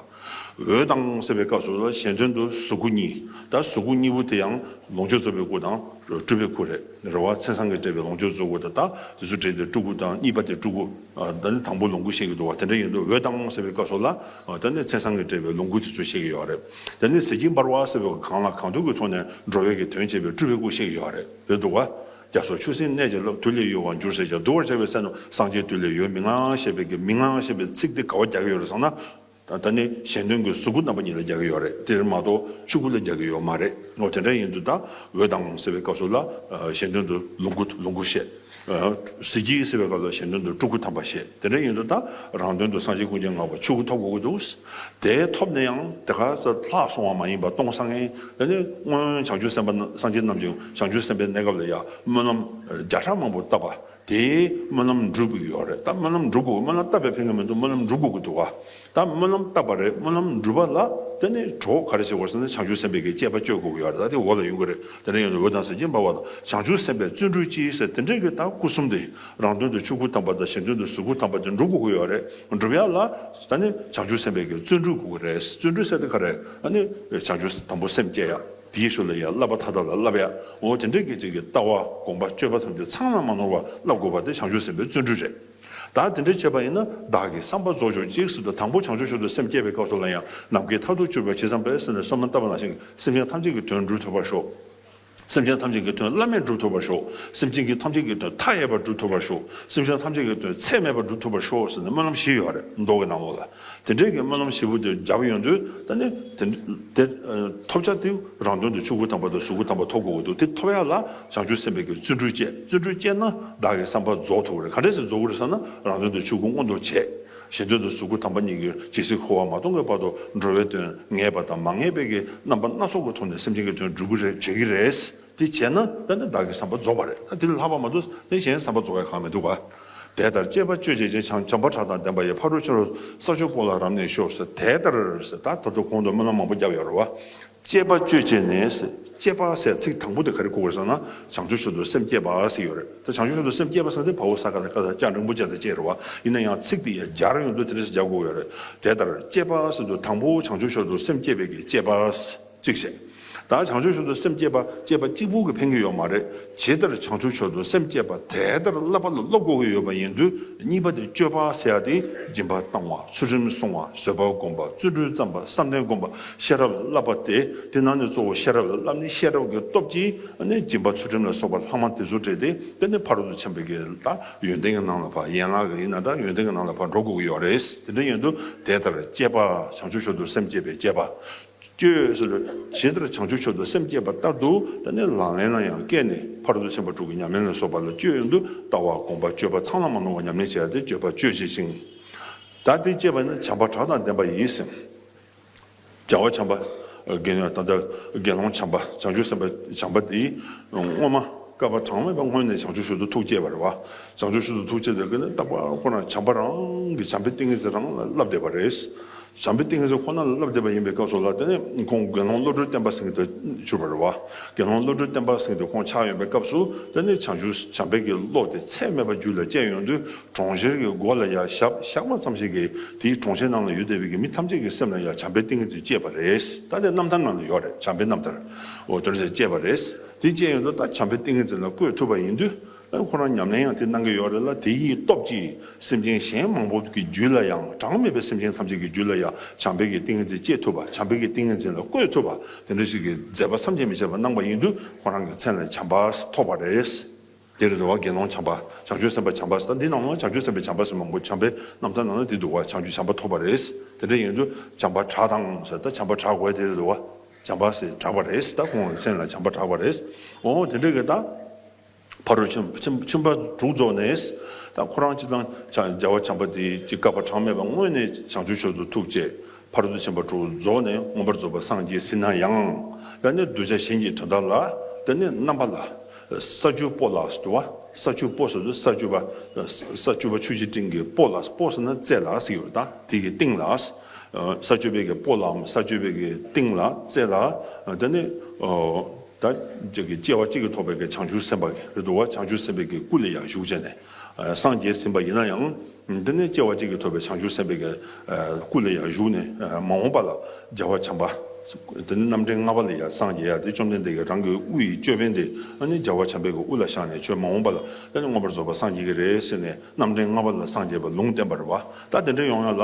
འོད་དང་ཟེར་བའི་སྐབས་སུ་གཞན་དོན་དུ་གཟུགས་སྐུ་གཉིས་ད་གཟུགས་སྐུ་གཉིས་པོ་དེ་ཡང་ལོངས་སྤྱོད་རྩོལ་བའི་སྐུ་དང་སྤྲུལ་པའི་སྐུ་རེད་རེ་བ་ཚེ་སང་གི་བཀྲེས་པའི་ལོངས་སྤྱོད་རྩོལ་སྐུ་དང་ད་དེ་ཚོ་བྲལ་ཏེ་སྤྲུལ་སྐུ་དང་གཉིས་པ་དེ་སྤྲུལ་སྐུ་ད་དང་པོ་ལོངས་སྐུ་བཤད་ཀྱི་འདུག་བ་དེ་འདྲ་ཡིན་དུས་འོད་དང་ཟེར་བའི་སྐབས་སུ་ལ་ད་ནི་ཚེ་སང་གི་བཀྲེས་པའི་ལོངས་སྐུ་དེ་ཚོ་བཤད་ཀྱི་ཡོད་རེད་ད་ནི་ཟེར་གྱིན་འབར་བ་ཟེར་བའི་གང་ལ་གང་འདུལ་གྱི་ཐོག་ནས་འགྲོ་བའི་གི་དོན་བྱེད་པའི་སྤྲུལ་པའི་སྐུ་བཤད་ཀྱི་ཡོད་རེད་རེད་འདུག་བ་རྒྱ་སོགས་ཆུ་སྲིན་གནས་བྱ་སློབ་དུས་ལས་ཡོལ་བར་འགྱུར་ཟེར་བྱ་འདུལ་བར་བྱ་བའི་ཚེ་ན་སངས་རྒྱས་དུས་ལས་ཡོལ་མི་མངའ་ཞེས་པའི་གི་མི་མངའ་ཞེས་པའི་ཚིག་དེ་ག་བ་རྒྱག་གི་ཡོད་རེད་བསམ་ན་ད་ནི་གཞན་དོན་གྱི་གཟུགས་སྐུ་རྣམ་པ་གཉིས་ལ་རྒྱག་གི་ཡོད་རེད་དེར་མ་གཏོགས་ཆོས་སྐུ་ལ་རྒྱག་གི་ཡོད་མ་རེད་ངོ་དེ་འདྲ་ཡིན་དུས་ད་འོད་དང་ཟེར་བའི་སྐབས་སུ་ལ་གཞན་དོན་དུ་ལོངས་སྐུ་ལོངས་སྐུ་བཤད། གཟི་བརྗིད་ཟེར་བའི་སྐབས་ལ་གཞན་དོན་དུ་སྤྲུལ་སྐུ་དམ་པ་བཤད་དེ་འདྲ་ཡིན་དུས་ད་རང་དོན་དུ་སངས་རྒྱས་ཀུན་མཁྱེན་ངང་པ་ཆོས་སྐུ་ཐོབ་དགོས་ཀྱི་འདུག་དེའི་ཐོབ་ནས་ཡང་དེ་ག་ས་ལྷག་སོང་བ་མ་ཡིན་པར་སྟོང་སང་ངེ་ད་ནི་སྔོན་བྱང་ཆུབ་སེམས་དཔའ་སངས་རྒྱས་རྣམས་ཀྱིས་བྱང་ཆུབ་སེམས་དཔའི་གནས་སྐབས་ལ་ཡང་སྨོན་ལམ་བརྒྱ་ཕྲག་མང་པོ་བཏབ་པ་དེས་སྨོན་ལམ་འགྲུབ་གི་ཡོད་རེད་ད་སྨོན་ལམ་འགྲུབ་དགོས་སྨོན་ལམ་བཏབ་པའི་ཕན་ཀ་མི་འདུག་སྨོན་ལམ་འགྲུབ་དགོས་ཀྱི་འདུག་ད་སྨོན་ལམ་བཏབ་པ་རེད་སྨོན་ལམ་འགྲུབ་པ་ལ་དེ་ནས་གྲོགས་པོ་ག་རེ་བྱེད་དགོས་ཟེར་ན་བྱང་ཆུབ་སེམས་དཔའི་གི་སྤྱད་པ་སྤྱོད་དགོས་ཀྱི་ཡོད་རེད་ད་དེ་འོག་ལ་ཡོད་ཀྱི་རེད་དེ་འདྲ་ཡོད་ན་འོད་དང་ཟེར་གྱིན་འབར་བ་དང་བྱང་ཆུབ་སེམས་དཔའི་བརྩོན་འགྲུས་ཅི་ཟེར་དེ་འདྲས་ཀྱི་ད་སྐུ་གསུམ་དེ་རང་དོན་དུ་ཆོས་སྐུ་དམ་པ་དང་གཞན་དོན་དུ་གཟུགས་སྐུ་དམ་པ་དེ་འགྲུབ་དགོས་ཀྱི་ཡོད་རེད་འགྲུབ་ཡག་ལ་ད་ནི་བྱང་ཆུབ་སེམས་དཔའི་གི་བརྩོན་འགྲུས་དགོས་ཀྱི་རེད་བརྩོན་འགྲུས་བསད་དེ་ག་རེ་ད་ནི་བྱང་ཆུབ་དམ་པོ་སེམས་བསྐྱེད་ཡག། དེའི་ཞོར་ལ་ཡང་བསླབ་པ་མཐའ་དག་ལ་བསླབ་པའི་ངོ་བོ་དེ་འདྲ་སྐད་ཅིག་གི་ལྟ་བ་དགོངས་པ་སྤྱོད་པ་ཐམས་ཅད་ཚང་ལ་མ་ནོར་བར་བསླབ་དགོས་པ་དེ་བྱང་ཆུབ་སེམས་དཔའི་བརྩོན་འགྲུས་རེད། བདག་དེ་འདྲ་བྱེད་པ་ཡིན་ན་བདག་གི་བསམ་པ་རྫོགས་ཆོག་ཅིག་སྲིད་དུ་དང་པོ་བྱང་ཆུབ་ཤོར་དུ་སེམས་བསྐྱེད་པའི་སྐབས་སུ་ལ་ཡང་ནམ་མཁའི་མཐར་ཐུག་སྤྱོད་པའི་ཕྱིར་བསམ་པའི་སེམས་ལས་སོ་མ་འདའ་བ་ན་ཞིང་སེམས་ཅན་ཐམས་ཅད་ཀྱི་དོན་བསྒྲུབ་ཐུབ་པར་ཤོག། སེམས་ཅན་ཐམས་ཅད་ཀྱི་དོན་བླ་མེད་བསྒྲུབ་ཐུབ་པར་ཤོག་སེམས་ཅན་གྱི་ཐམས་ཅད་ཀྱི་དོན་མཐའ་ཡས་པར་བསྒྲུབ་ཐུབ་པར་ཤོག་སེམས་ཅན་ཐམས་ཅད་ཀྱི་དོན་ཚད་མེད་པར་བསྒྲུབ་ཐུབ་པར་ཤོག་ཟེར་ནས་སྨོན་ལམ་བཞི་ཡོད་རེད་མདོ་གི་ནང་ལོགས་ལ། དེ་འབྲེལ་གྱི་སྨོན་ལམ་ཞིབ་པོ་དེ་བརྒྱབ་ཡོང་དུས་ད་ནི། དེ། ཐོབ་བྱ་དེ་རང་དོན་དུ་ཆུ་ཁུ་དམ་པ་དང་ཟུར་ཁུ་དམ་པ་ཐོབ་དགོས་པ་འདུག་དེ་ཐོབ་ཡ་ལ་བྱང་ཆུབ་སེམས་དཔའ་གྱི་བརྩོན་འགྲུས་བསྐྱེད་བརྩོན་འགྲུས་བསྐྱེད་ན་བདག་གི་བསམ་པ་རྫོགས་ཐུབ་རེད་ག་འདྲས་སུ་རྫོགས་ཀྱི་རེད་བསམ་ན་རང་དོན་དུ་ཆུ་ཁུ་སྔོན་འགྲོ་བྱས། གཞན་དོན་དུ་ཟུར་ཁུ་དམ་པ་གཉིས་ཀྱི་ཇི་སྲིད་འཁོར་བ་མ་སྟོང་གི་བར་དུ་འགྲོ་བའི་དོན་ངེས་པ་དང་མ་ངེས་པའི་གྱི་རྣམ་པ་སྣ་ཚོགས་ཀྱི་ཐོག་ནས་སེམས་ཅན་གྱི་དོན་བསྒྲུབ་ཀྱི་རེད་བྱེད་ཀྱི་རེད། དེ་བྱས་ན་དཔེར་ན་བདག་གི་བསམ་པ་རྫོགས་པ་རེད་ད་དེ་ལས་ལྷག་པ་མ་འདུག་དེ་གཞན་བསམ་པ་རྫོགས་བའི་གང་མི་འདུག་ག། དེ་ལྟར་སྤྱད་པ་སྤྱོད་བྱེད་ཅེས་བྱམས་པ་གྲགས་དང་ལྡན་པ་ཡི་ཕ་རོལ་ཕྱིན་རོལ་ས་ཆོས་སྐོར་ལ་རབ་གནས་ཤོག་ཟེར་དེ་ལྟར་ཟེར་ད་ད་དུ་གོང་དུ་སྨོན་ལམ་མང་པོ་བརྒྱབ་ཡོད་རེད་བ། སྤྱད་པ་སྤྱོད་བྱེད་ནས་སྤྱད་པ་ཟེར་ཚིག་དང་པོ་དེ་ག་རེ་གོ་དགོས་ཟེར་ན་བྱང་ཆུབ་ཤིན་ཏུ་སེམས་བསྐྱེད་པ་ཟེར་ཡོད་རེད་ད་བྱང་ཆུབ་ཤིན་ཏུ་སེམས་བསྐྱེད་པ་ཟེར་ན་དེ་བ་འུ་ས་ག་ད་ཀ་ད་སྤྱང་རིང་པོ་ཅན་ཟེར་བཅས་རེད་བ་ཡིན་ན་ཡང་ཚིག་དེ་ཡང་སྦྱར་ཡོང་དུས་དེ་འདྲ་ཞིག་སྦྱར་དགོས་ཡོད་རེད་དེ་ལྟར་སྤྱད་པ་ཟེར་དུས་དང་པོ་བྱང་ཆུབ་ཤོར་དུ་སེམས་བསྐྱེད་པའི་གི་སྤྱད་པ། གཅིག་བྱས། ད་བྱང་ཆུབ་ཤོར་དུ་སེམས་བསྐྱེད་པ་ཅེས་པ་གཅིག་པུ་གི་ཕན་གྱི་ཡོད་མ་རེད། ཇི་ལྟར་བྱང་ཆུབ་ཤོར་དུ་སེམས་བསྐྱེད་པ་དེ་ལྟར་བསླབ་པ་ལ་སློབ་དགོས་ཀྱི་ཡོད་པ་ཡིན་དུས་གཉིས་པ་དེ་སྤྱོད་པ་ཟེར་ཡག་དེ་སྦྱིན་པ་བཏང་བ་ཚུལ་ཁྲིམས་བསྲུང་བ་བཟོད་པ་བསྒོམ་པ་བརྩོན་འགྲུས་བརྩམས་པ་བསམ་གཏན་བསྒོམ་པ་ཤེས་རབ་ལ་བསླབ་པ་དེ་དེ་ནང་ནས་གཙོ་བོ་ཤེས་རབ་ལ་བསླབ་ནས་ཤེས་རབ་ཀྱི་སྟོབས་ཀྱིས་ནི་སྦྱིན་པ་ཚུལ་ཁྲིམས་ལ་སོགས་པ་ལྷག་མ་དེ་ཚོ་བྲལ་ཏེ་དཔེར་ན་ཕ་རོལ་ཏུ་ཕྱིན་པ་གྱི་ལ་ཡོན་ཏན་གྱི་ནང་ལ་བར་ཡན་ལག་གི་ཡིན་ན་འདྲ་ཡོན་ཏན་གྱི་ནང་ལ་བར་འགྲོ་དགོས་ཀྱི་ཡོད་རེད་དེ་འདྲ་ཡིན་དུས་དེ་ལྟར་བསྐྱེད་པ་བྱང་ཆུབ་ཤོར་དུ་སེམས་བསྐྱེད་པའི་བསྐྱེད་པ་སྐྱོལ། ཞེས་ལྟར་བྱང་ཆུབ་མཆོག་ཏུ་སེམས་བསྐྱེད་པ་ལྟར་དུ་ད་ནི་ལག་ལེན་ལ་ཡང་བཀལ་ནས་ཕར་འདུག་སེམས་པ་དྲུག་གི་ཉམས་ལེན་ལ་སོགས་པ་ལ་སྤྱོད་ཡོན་དུ་ལྟ་བ་དགོངས་པ་སྤྱོད་པ་ཚང་ལ་མ་ནོར་བར་ཉམས་ལེན་བྱས་ཏེ་སྤྱོད་པ་སྤྱོད་བྱེད་ཅིང། ད་དེ་སྤྱད་པ་ནི་བྱམས་པ་གྲགས་དང་ལྡན་པ་ཡིད་སེམས་བྱ་བ་བྱམས་པ། དགེ་འདུན་ཐམས་ཅད་དགེ་སློང་བྱམས་པ་བྱང་ཆུབ་སེམས་དཔའ་བྱམས་པ་འདིས་སྔོན་མ་བསྐལ་པ་གྲངས་མེད་པ་སྔོན་ནས་བྱང་ཆུབ་ཤུལ་དུ་ཐུགས་བསྐྱེད་པར་བ་བྱང་ཆུབ་ཤུལ་དུ་ཐུགས་བསྐྱེད་དེ་ཀ་ནི་རྟག་པར་ཁོ་རང་བྱམས་པ་རང་གི་བྱམས་པའི་ཏིང་ངེ་འཛིན་རང་ལ་བསླབ་བསྡད་པ་རེད། བྱམས་པའི་ཏིང་ངེ་འཛིན་ཁོ་ན་ལ་བསླབ་བསྡད་པ་ཡིན་པའི་སྐབས་སུ་ལ་དེ་ནས་ཁོང་དགེ་སློང་བློ་གྲོས་བརྟན་པ་ཟིན་དུ་གྱུར་པར་རེ་བ། དགེ་སློང་བློ་གྲོས་བརྟན་པ་ཟིན་དུ་ཁོང་ཕྱག་གཡོན་པའི་སྐབས་སུ་དེ་ནས་བྱང་ཆུབ་བྱམས་པས་ཀྱིས་བློ་དེ་ཚད་མེད་པ་རྒྱུད་ལ་སྐྱེས་ཡོང་དུས་གྲོང་ཁྱེར་གྱི་སྒོ་ལ་ཡང་ཞབས་ཞག་མ་ཙམ་ཞིག་གིས་དེའི་གྲོང་ཁྱེར་རྣམས་ལ་ཡུལ་དེ་བས་ཀྱི་མི་ཐམས་ཅད་ཀྱི་སེམས་ལ་ཡང་བྱམས་པའི་ཏིང་ངེ་འཛིན་སྐྱེས་པར་རེ་ད་ནས་རྣམ་ཐར་རྣམས་ལ་ཡོད་རེད་བྱམས་པའི་རྣམ་ཐར། དེ་ནས་སྐྱེས་པར་རེ་དེ་སྐྱེས་ཡོང་དུས་ད་བྱམས་པའི་ཏིང་ངེ་འཛིན་ལ་བཀོད་ཐུབ་པ་ཡིན་དུས། ཨེ་ཁོ་རང་ཉམས་ལེན་ཡང་དེ་གནང་གི་ཡོད་རེད་ལ་དེ་ཡི་སྟོབས་ཀྱིས་སེམས་ཅན་གཞན་མང་པོ་གི་རྒྱུད་ལ་ཡང་གྲངས་མེད་པའི་སེམས་ཅན་ཐམས་ཅད་ཀྱི་རྒྱུད་ལ་ཡང་བྱམས་པའི་གི་ཏིང་ངེ་འཛིན་སྐྱེ་ཐུབ་པ་བྱམས་པའི་གི་ཏིང་ངེ་འཛིན་ལ་བཀོད་ཐུབ་པ་དེ་འདྲ་ཞིག་གི་མཛད་པ་བསམ་གྱིས་མི་ཁྱབ་པ་གནང་པ་ཡིན་དུས་ཁོ་རང་གི་མཚན་ལས་བྱམས་པ་ཐོགས་པ་རེད། འདིར་རེ་བ་དགེ་སློང་བྱམས་པ་བྱང་ཆུབ་སེམས་དཔའ་བྱམས་པ་ད་འདི་ནང་ན་བྱང་ཆུབ་སེམས་དཔའ་བྱམས་པ་ཟེར་མང་པོ་བྱམས་པའི་རྣམ་ཐར་ནང་ན་དེ་འདུག་བ་བྱང་ཆུབ་བྱམས་པ་ཐོགས་པ་རེད། དེ་འདྲ་ཡིན་དུས་བྱམས་པ་གྲགས་དང་ཟེར་ད་བྱམས་པ་གྲགས་དགོས་དེ་རེ་བ་བྱམས་པ་ཟེར་གྲགས་པ་རེད་ད་ཁོང་གི་མཚན་ལ་བྱམས་པ་གྲགས་པ་རེད། འོ་དེ་འདྲ་གི་ད། ཕ་རོལ་ཕྱིན་པ་དྲུག་རྫོགས་ནས་དང་ཁོ་རང་སྤྱི་དང་སྦྱར་བ་བྱམས་པ་དེའི་ཅི་དགའ་བ་གྲངས་མེད་པ་སྔོན་ནས་བྱང་ཆུབ་ཆོས་སུ་ཐུགས་བསྐྱེད་ཕ་རོལ་ཏུ་ཕྱིན་པ་དྲུག་རྫོགས་ནས་མངོན་པར་རྫོགས་པར་སངས་རྒྱས་ཟིན་ན་ཡང། ཡང་ནི་གདུལ་བྱ་གཞན་གྱི་དོན་དག་ལ་འདི་ནི་རྣམ་པ་ལ། ས་བཅུ་པོ་ལ་ཟློ་བ་ས་བཅུ་པོ་ཟེར་དུས་ས་བཅུ་པ་ས་བཅུ་པ་ཆུ་བྱི་སྤྲིན་གྱི་པོ་ལ་པོ་ཟེར་ན་རྩེ་ལ་ཟེར་གྱི་བ་དང་དེ་གི་སྟེང་ལ། ས་བཅུ་པའི་གི་པོ་ལའམ་ས་བཅུ་པའི་གི་སྟེང་ལ་རྩེ་ལ་འདི་ནི། དང། ཅེས་ཀྱི་སྐྱེ་བ་གཅིག་གིས་ཐོགས་པའི་བྱང་ཆུབ་སེམས་དཔའ་རེ་དོ། བྱང་ཆུབ་སེམས་དཔའི་གི་སྐུ་ལས་ཡང་ཞུགས་བྱས་ནས། སངས་རྒྱས་ཟིན་པ་ཡིན་ན་ཡང། འདི་ནི་སྐྱེ་བ་གཅིག་གིས་ཐོབ་པའི་བྱང་ཆུབ་སེམས་དཔའི་གི་སྐུ་ལས་ཡང་ཞུགས་ནས་མ་འོངས་པ་ལ་རྒྱལ་བ་བྱམས་པ། འདི་ནི་རྣམ་འདྲེན་ལྔ་པ་ལས་ཡང་སངས་རྒྱས་ཡ་དེ་བཅོམ་ལྡན་འདས་ཀྱི་རང་གི་དབུ་ཡི་ཅོད་པན་དེ་ནི་རྒྱལ་བ་བྱམས་པའི་གི་དབུ་ལ་བཞག་ནས་ཆོས་མ་འོངས་པ་ལ་ནི་མངོན་པར་རྫོགས་པར་སངས་རྒྱས་ཀྱི་རེ་ཟེར་ནས་རྣམ་འདྲེན་ལྔ་པ་ལ་སངས་རྒྱས་པ་ལུང་བསྟན་པར་བ་ད་དེ་འདྲ་ཡོང་ཡང་ལ།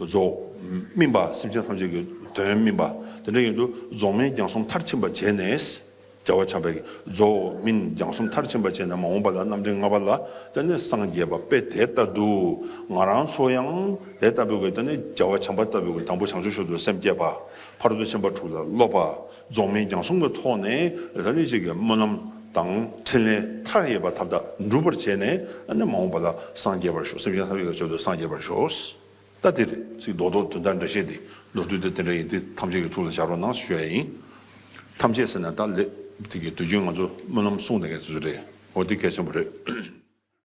རྫོགས། སྨིན་པ་སེམས་ཅན་ཐམས་ཅད་ཀྱི་དོན་སྨིན་པ། དེ་འདྲ་ཡིན་དུ་རྫོགས་སྨིན་རྒྱང་གསུམ་མཐར་ཕྱིན་པར་བྱས་ནས། རྒྱལ་བ་བྱམས་པས་རྫོགས། སྨིན་རྒྱང་གསུམ་མཐར་ཕྱིན་པར་བྱས་ནས་མ་འོངས་པ་ལ་རྣམ་འདྲེན་ལྔ་པ་ལ་བསྟོད་ནས་སངས་རྒྱས་པ་དཔེ་དེ་ལྟར་དུ། ང་རང་ཚོ་ཡང་དེ་ལྟ་བུའི་བསྟོད་ནས་རྒྱལ་བ་བྱམས་པ་ལྟ་བུའི་དང་པོ་བྱང་ཆུབ་ཤོར་དུ་སེམས་བསྐྱེད་པ། ཕ་རོལ་ཏུ་ཕྱིན་པ་དྲུག་ལ་སློབ་པ། རྫོགས་སྨིན་རྒྱང་གསུམ་གྱི་ཐོག་ནས་ར་ལས་གཅིག་གི་སྨོན་ལམ་དང་ཕྲིན་ལས་མཐའ་ཡས་པ་ཐབས་དག་འགྲུབ་པར་བྱས་ནས་མ་འོངས་པ་ལ་སངས་རྒྱས་པར་ཤོག་སེམས་ཅན་ཐམས་ཅད་ཀྱི་མཆོག་ཏུ་སངས་རྒྱས་པར་ཤོག། ལྟ་དེར་ཚིག་རྡོག་རྡོག་དུས་འདའ་འདྲ་བྱས་ཏེ་ལོ་དུས་དེ་དེ་འདྲ་ཡིན་ཏེ་ཐམས་ཅད་ཀྱི་ཐུགས་ལ་འཆར་བར་གནང་ཞེས་བཤད་ཡ་ཡིན། ཐམས་ཅད་ཟེར་ནས་ལྟ་ལེགས། དེ་གི་དུས་རྒྱུན་ང་ཚོ་སྨོན་ལམ་གསུངས་དེ་གས་ཚོད་ཚོད་རེད་འོ་དེ་གལ་ཆེན་པོ་རེད།